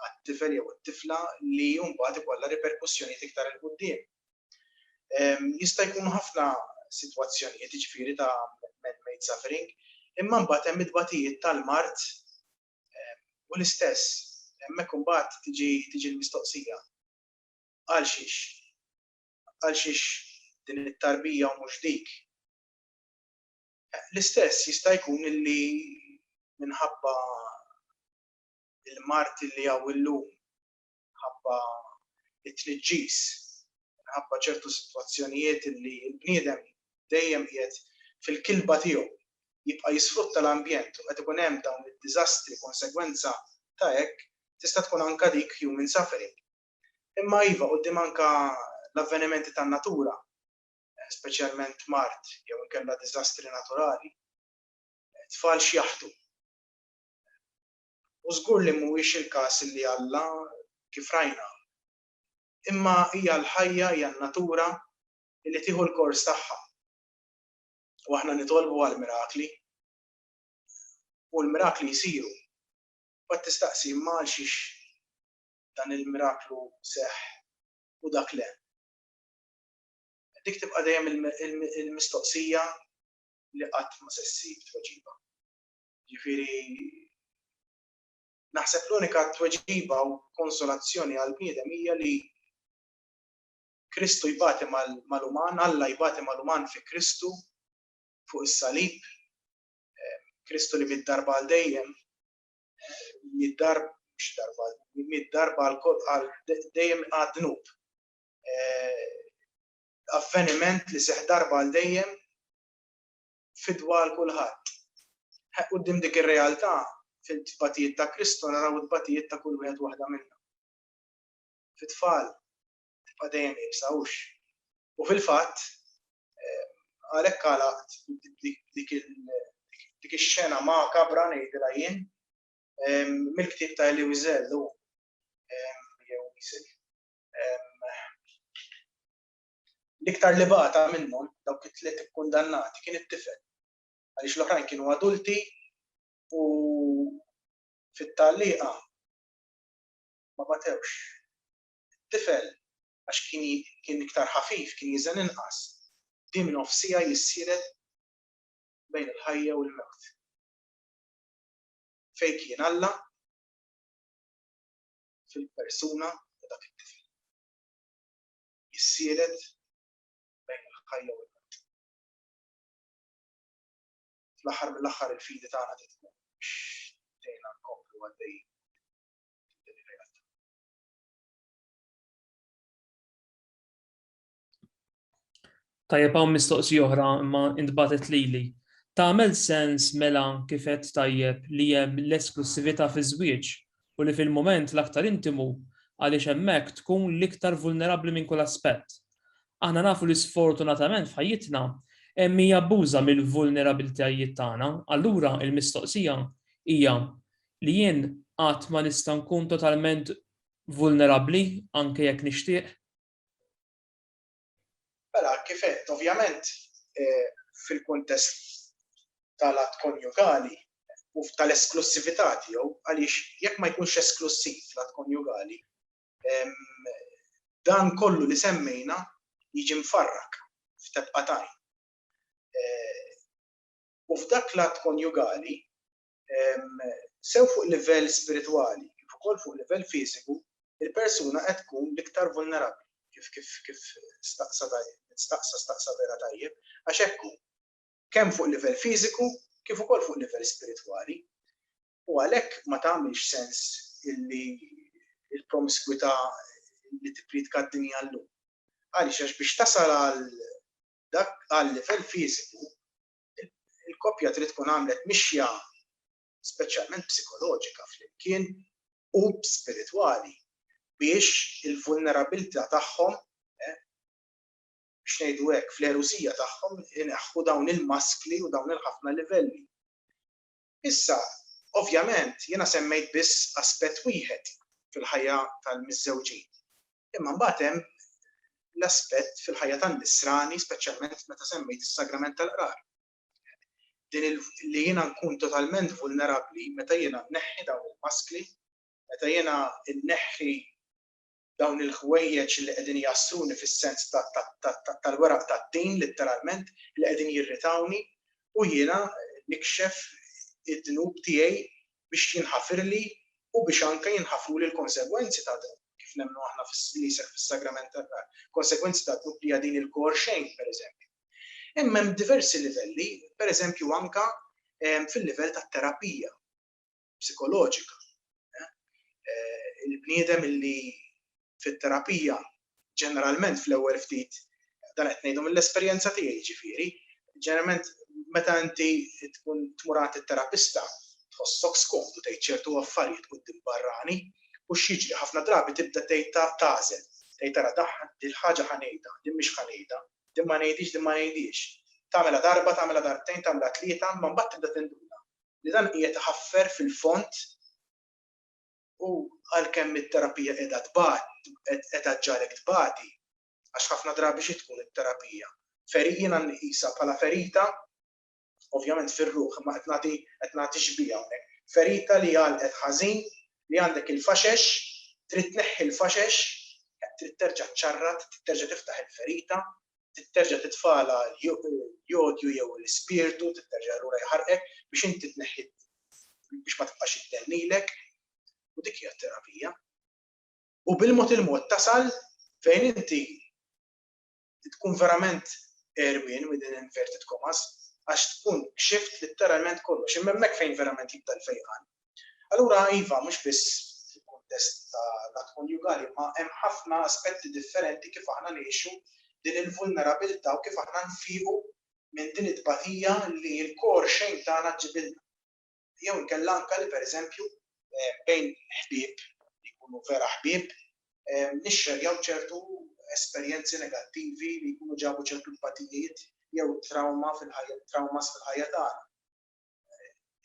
għat-tifel jew it-tifla li mbagħad ikollha riperkussjonijiet iktar 'il quddiem. Ehm, jista' jkun ħafna sitwazzjonijiet ġifieri ta' man-made suffering, imma mbagħad hemm it-tbatijiet tal-mard U l-istess, hemmhekk imbagħad tiġi l-mistoqsija, għalxiex? Għalxiex din it-tarbija u mhux dik? L-istess jista' jkun li minħabba l-mard li hawn illum minħabba t-tniġġis, minħabba ċertu sitwazzjonijiet li l-bniedem dejjem qiegħed fil-kilba tiegħu jibqa' jisfrutta l-ambjent u qed ikun hemm dawn id-diżastri konsegwenza ta' hekk tista' tkun anke dik human suffering. Imma iva, quddiem anke l-avvenimenti tan-natura, speċjalment mard jew inkella diżastri naturali, it-tfal x'jaħtu? u żgur li mhuwiex il-każ li Alla, kif rajna. Imma hija l-ħajja, hija n-natura li tieħu l-kors tagħha. U aħna nitolbu għall-mirakli. U l-mirakli jsiru. Mbagħad tistaqsi, imma għalxiex dan il-miraklu seħħ u dak le? Dik tibqa' dejjem il-mistoqsija li qatt ma se ssib tweġiba. Jiġifieri naħseb l-unika tweġiba u konsolazzjoni għall-bniedem hija li Kristu jbati mal-uman, Alla jbati mal-uman fi Kristu fuq is-salib, Kristu li miet darba għal dejjem, miet darba mhux darba, miet darba għal dejjem għad-dnub. Avveniment li seħħ darba għal dejjem fidwa għal kulħadd. Quddiem dik ir-realtà, fit-tbatijiet ta' Kristu naraw it-tbatijiet ta' kull wieħed waħda minna. Fit-tfal, tibqa' dejjem iebsa, hux? U fil-fatt, eh, għalhekk għalaqt dik ix-xena makabra ngħidilha jien mill-ktieb ta' Eli Wiesel jew Wiesel. L-iktar li bata minnhom, dawk it-tliet ikkundannati, kien it-tifel, għaliex l-oħrajn kienu adulti u fit-tgħalliqa ma batewx. It-tifel, għax kien iktar ħafif, kien jeżen inqas, bdie minn nofsiegħa jissieret bejn il-ħajja u l-mewt. Fejn kien Alla fil-persuna ta' dak it-tifel? jissielet bejn il-ħajja u l-mewt. Fl-aħħar mill-aħħar il-fidi tagħna trid tkun biex tgħinna nkomplu għaddejjin Tajjeb hawn mistoqsija oħra imma intbagħtet lili. Tagħmel sens mela kif għedt tajjeb li hemm l-esklussività fiż-żwieġ u li fil-mument l-aktar intimu għaliex hemmhekk tkun l-iktar vulnerabbli minn kull aspett. Aħna nafu li sfortunatament f'ħajjitna hemm min jabbuża mill-vulnerabilitajiet tagħna, allura l-mistoqsija hija li jien qatt ma nista' nkun totalment vulnerabbli anke jekk nixtieq? Mela, kif għedt, ovvjament fil-kuntest tal-att konjugali u tal-esklussività tiegħu, għaliex jekk ma jkunx esklussiv l-att konjugali, dan kollu li semmejna jiġi mfarrak f'tebqa' t'għajn. U f'dak l-att konjugali, sew fuq livell spiritwali kif ukoll fuq livell fiżiku, il-persuna qed tkun l-iktar vulnerabbli kif kif kif staqsa staqsa staqsa vera tajjeb għax hekk hu. Kemm fuq livell fiżiku kif ukoll fuq livell spiritwali. U għalhekk ma tagħmilx sens illi il-promiskwità li tippriedka d-dinja llum. Għaliex għax biex tasal għal dak għal livell fiżiku il-koppja trid tkun għamlet mixja speċjalment psikoloġika flimkien u spiritwali biex il-vulnerabilità tagħhom biex ngħidu hekk, fl-erusija tagħhom ineħħu dawn il-maskli u dawn il-ħafna livelli. Issa, ovvjament, jiena semmejt biss aspett wieħed fil-ħajja tal-miżżewġin. Imma mbagħad hemm l-aspett fil-ħajja tan-nisrani, speċjalment meta semmejt is-sagrament tal-qrar. Din li jiena nkun totalment vulnerabbli meta jiena nneħħi dawn il-maskli, meta jiena nneħħi dawn il-ħwejjeġ li qegħdin jgħassluni fis-sens tal-weraq tad-din litteralment li qegħdin jirritawni u jiena nikxef id-dnub tiegħi biex jinħafirli u biex anke jinħafruli l-konsegwenzi ta' dan, kif nemmnu aħna li jseħħ fis-Sagrament tan-Nar, konsegwenzi ta' dnub li hija din il-kor xejn, pereżempju. Imma hemm diversi livelli, pereżempju anke fil-livell tat-terapija. psikoloġika. Il-bniedem illi fit-terapija ġeneralment fl-ewwel ftit dan qed ngħidu mill-esperjenza tiegħi ġifieri, ġeneralment meta inti tkun tmur għand it-terapista tħossok skomdu tgħid ċertu affarijiet quddiem barrani u x'jiġri ħafna drabi tibda tgħid tagħżel, tgħid tara daħħa dil-ħaġa ħa ngħidha, din mhix ħa ngħidha, din ma ngħidhiex, din ma ngħidhiex. Tagħmilha darba, tagħmilha darbtejn, tagħmilha tlieta, ma mbagħad tibda tinduna. li dan qiegħed iħaffer fil-fond u għalkemm it-terapija qiegħda tbati, qiegħda ġġagħlek tbati, għax ħafna drabi xi tkun it-terapija? Feri, jiena nqisha bħala ferita, ovvjament fir-ruħ, imma qed nagħti, qed nagħti xbieha hawnhekk, ferita li għalqet ħażin, li għandek il-faxex, trid tneħħi l-faxex, trid terġa' ċċarrat, trid terġa' tiftaħ il-ferita, titterġa' titfala l-jodju jew l-ispirtu, titterġa' lura jħarqek biex inti tneħħi biex ma tibqax iddell lilek, u dik hija t-terapija. U bil-mod il-mod tasal fejn inti tkun verament erwin with an inverted commas għax tkun kxift litteralment kollox, imma hemmhekk fejn verament jibda l-fejqan. Allura iva, mhux biss fil-kuntest ta' l-att konjugali, imma hemm ħafna aspetti differenti kif aħna ngħixu din il-vulnerabilità u kif aħna nfiequ minn din it-tbatija li l-core shame tagħna ġġibilna. Jew inkella anke li pereżempju, bejn ħbieb li jkunu vera ħbieb, nixxerjaw ċertu esperjenzi negattivi li jkunu ġabu ċertu tbatijiet jew trawma fil-ħajja, traumas fil-ħajja tagħna.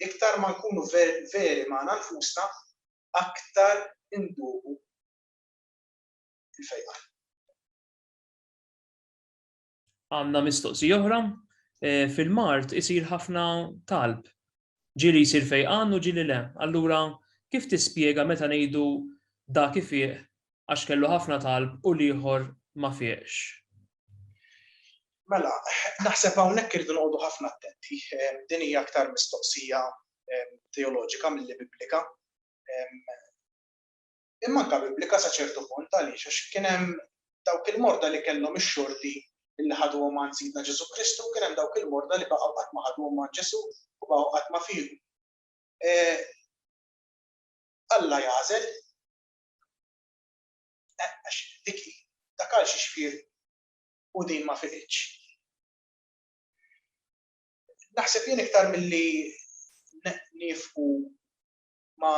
iktar ma nkunu veri magħna nfusna, aktar induqu il-fejqa. Għanna mistoqsi oħra, eh, fil-mart isir ħafna talb. Ġili jisir fejqan u ġili le. Allura, kif tispjega meta ngħidu dak ifiq għax kellu ħafna talb u l-ieħor ma fieqx. Mela, naħseb hawnhekk irridu noqogħdu ħafna attenti. Din hija aktar mistoqsija teoloġika milli biblika. Imma anke biblika sa ċertu punt għaliex għax kien hemm dawk il-morda li kellhom ix-xorti li ħadhom ma' Sidna Ġesu Kristu, kien hemm dawk il-morda li baqgħu qatt ma ħadhom ma' Ġesu u baqgħu qatt ma fieħu. E, Alla jagħżel Eh, għax dik dak għal xi xfir u din ma fiqitx. Naħseb jien iktar milli nifqu ma,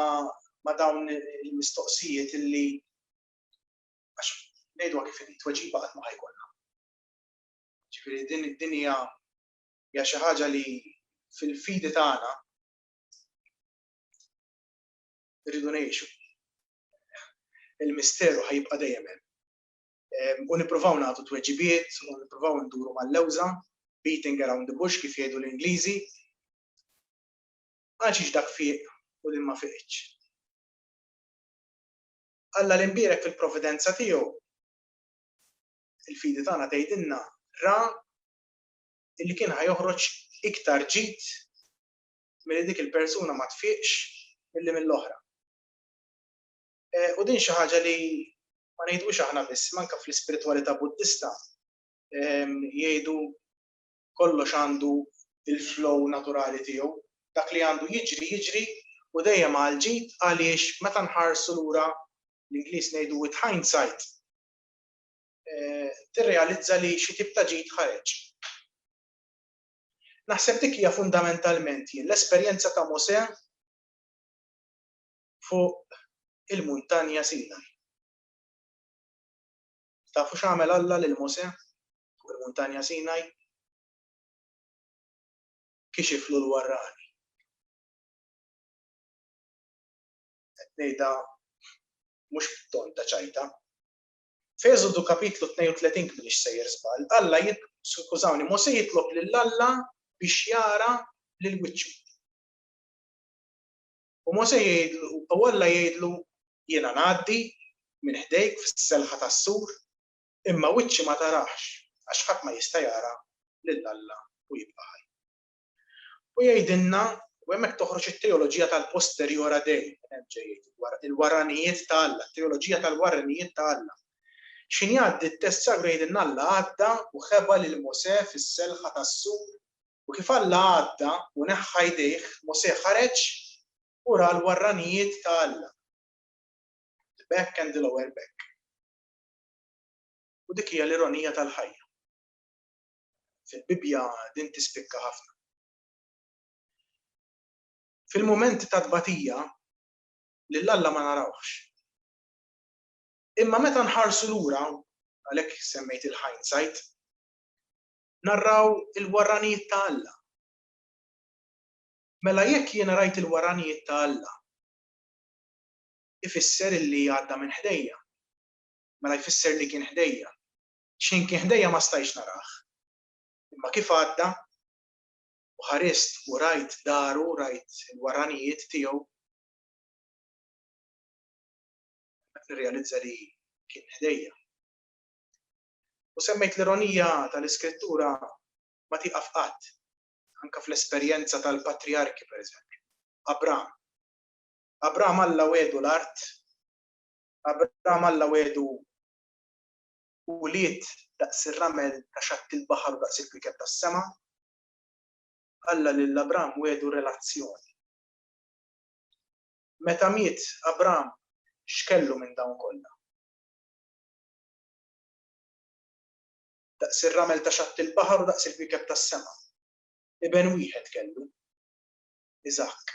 ma dawn il-mistoqsijiet illi għax ngħidu kif inhi tweġiba qatt ma ħajkolna. Ġifieri din id-dinja hija xi ħaġa li fil-fidi tagħna rridu ngħixu. Il-misteru ħajibqa' dejjem hemm. Ehm, u nippruvaw nagħtu tweġibiet u nippruvaw nduru mal-lewża, beating around the bush kif jgħidu l-Ingliżi. Għax dak fiq u li ma fiqx. Alla l-imbierek fil-providenza tiegħu il-fidi tagħna tgħidilna ra illi kien ħajoħroġ iktar ġid milli dik il-persuna ma tfiqx milli mill-oħra. U din xi ħaġa li ma ngħidux aħna biss, manka fl-ispiritwalità Buddista jgħidu kollox għandu il-flow naturali tiegħu, dak li għandu jiġri jiġri u dejjem għal ġid għaliex meta nħarsu lura l-Ingliż ngħidu with hindsight tirrealizza li xi tip ta' ġid ħareġ. Naħseb dik hija fundamentalment jien l-esperjenza ta' Mosè fuq il-muntanja Sinaj. Tafu x'għamel Alla lil Mosè fuq il-muntanja Sinaj? Kixiflu l-warrani. Qed ngħidha mhux b'ton ta' ċajta, F'Eżodu Kapitlu 32 kminix sejjer żball, Alla jit, skużawni, Mosè jitlob lil Alla biex jara lil wiċċu. U Mosè jgħidlu, u Alla jgħidlu, jiena ngħaddi minn ħdejk fis-selħa tas-sur, imma wiċċi ma tarax, għax ħadd ma jista' jara lil Alla u jibqa' ħaj. U jgħidilna, u hemmhekk toħroġ it-teoloġija tal-posteriora dei, minn hemm ġej jgħid, il-warranijiet ta' Alla, it-teoloġija tal-warranijiet ta' Alla. X'ħin jgħaddi t-test sagru jgħidilna Alla għadda u ħeba lil Mosè fis-selħa tas-sur, u kif Alla għadda u neħħa jdejh, Mosè ħareġ u ra l-warranijiet ta' Alla. The back and the lower back. U dik hija l-ironija tal-ħajja. Fil-Bibbja din tispikka ħafna. Fil-mumenti ta' tbatija, lil Alla ma narawhx. Imma meta nħarsu lura, għalhekk semmejt il-hindsight, narraw il-warranijiet ta' Alla. Mela jekk jiena rajt il-warranijiet ta' Alla, ifisser illi għadda minn ħdejja. Mela jfisser li kien ħdejja. X'ħin kien ħdejja ma stajtx narah. Imma kif għadda, u ħarist u rajt daru, rajt il-warranijiet tiegħu, nirrealizza li kien ħdejja. U semmejt l-ironija tal-Iskrittura ma tieqaf qatt, anke fl-esperjenza tal-patrijarki pereżempju, Abram. Abram Alla wegħdu l-art, Abram Alla wegħdu u ulied daqs ir-ramel ta' xatt il-baħar u daqs il-kwiekeb tas-sema, Alla lil Abram wiegħdu relazzjoni. Meta miet Abram, x'kellu minn dawn kollha? Daqs ir-ramel ta' xatt il-baħar u daqs il-kwiekeb tas-sema. Iben wieħed kellu, Iżakk.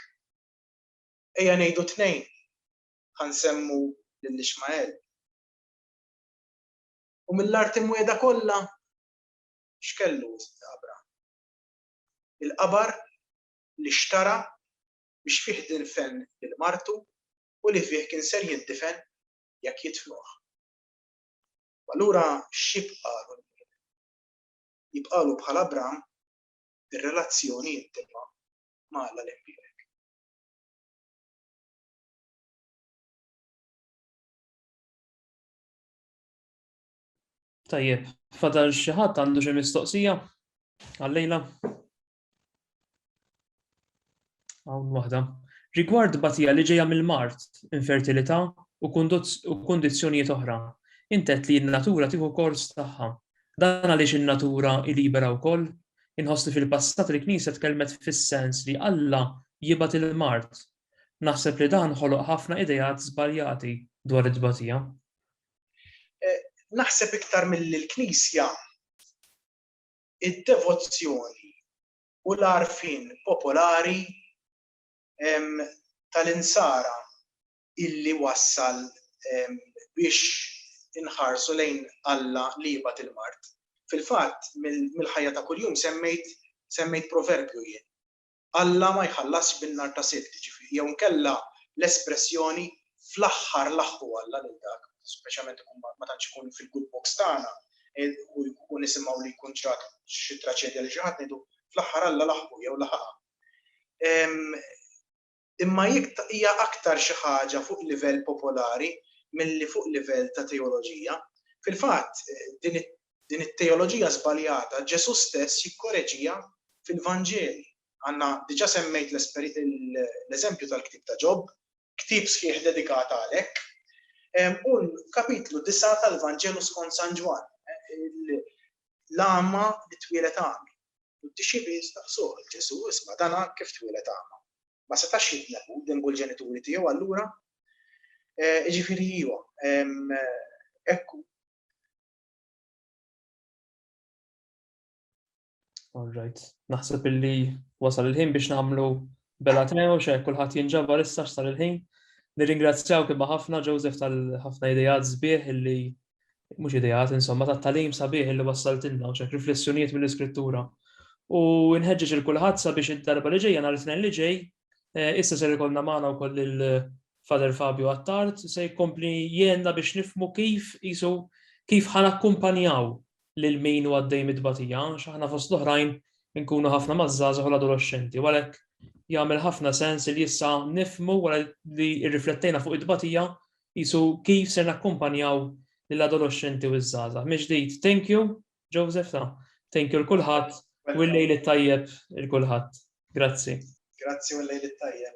Ejja ngħidu tnejn, ħa nsemmu lil Ixmael. U mill-art imwiegħda kollha x'kellu wisq qabra? Il-qabar li xtara biex fih dinfen lil martu u li fih kien ser jindifen jekk jidfnuh. U allura x'jibqagħlu l-mwieled? Jibqagħlu bħal Abram ir-relazzjoni intima ma' Alla l-Imbierek. Tajjeb, fadal xi ħadd għandu xi mistoqsija għallejla? Hawn waħda. Rigward batija li ġejja mill-mart, infertilità u kundizzjonijiet oħra, intet li n-natura tieħu kors tagħha. Dan għaliex in-natura libera wkoll? Inħoss li fil-passat il-Knisja tkellmet fis-sens li Alla jibgħat il-mart Naħseb li dan ħoloq ħafna ideat żbaljati dwar it-tbatija. Naħseb iktar milli l-Knisja, id-devozzjoni u l-għarfien popolari tal-Insara illi wassal biex inħarsu lejn Alla li jibgħat il-mard. Fil-fatt, mill-ħajja ta' kuljum semmejt proverbju jien. Alla ma jħallasx bin-nar ta' sibt, ġifieri, jew inkella l-espressjoni fl-aħħar laħħu Alla lil dak, speċjalment ikun ma tantx ikun fil-good books tagħna, u nisimgħu li jkun ġrat xi traċedja lil xi ħadd ngħidu fl-aħħar Alla laħħu jew laħaqha. Imma hija aktar xi ħaġa fuq livell popolari milli fuq livell ta' teoloġija. Fil-fatt, Din it-teoloġija żbaljata Ġesù stess jikkoreġiha fil-Vanġeli. Anna, diġà semmejt l-eżempju tal-ktieb ta' Ġob, ktieb sħiħ dedikat għalek, u l-kapitlu disa' tal-Vanġelu skont San Ġwann, l-agħma li twieled għami. U d-dixxipli staqsuh, Ġesù, isma' dana kif twieled agħma? Ma setax jibni hu demb u l-ġenituri tiegħu allura? Jiġifieri iva, hekk hu. All right. Naħseb illi wasal il-ħin biex nagħmlu bella tnejn xe kulħadd jinġabar issa x'sar il-ħin. Nirringrazzjaw kibba ħafna Joseph tal-ħafna idejat sbieħ illi mhux idejat insomma tat-talim sabiħ illi wassaltilna u xek riflessjonijiet mill-iskrittura. U nħeġġeġ il kulħadd sabiex id-darba li ġejja nhar it-tnejn li ġej eh, issa ser ikollna magħna wkoll Father Fabio Attard se jkompli jgħenna biex nifhmu kif qisu kif ħa nakkumpanjaw lil min hu għaddej mit-tbatija għax aħna fost l-oħrajn inkunu ħafna maż-żgħażagħ u l-adoloxxenti u għalhekk jagħmel ħafna sens li issa nifhmu wara li rriflettejna fuq it-tbatija qisu kif ser nakkumpanjaw lill-adoloxxenti u ż-żgħażagħ. Mill-ġdid, thank you Joseph ta' thank you l kulħadd u l-lejl it-tajjeb il kulħadd. Grazzi. Grazzi u l-lejl it-tajjeb.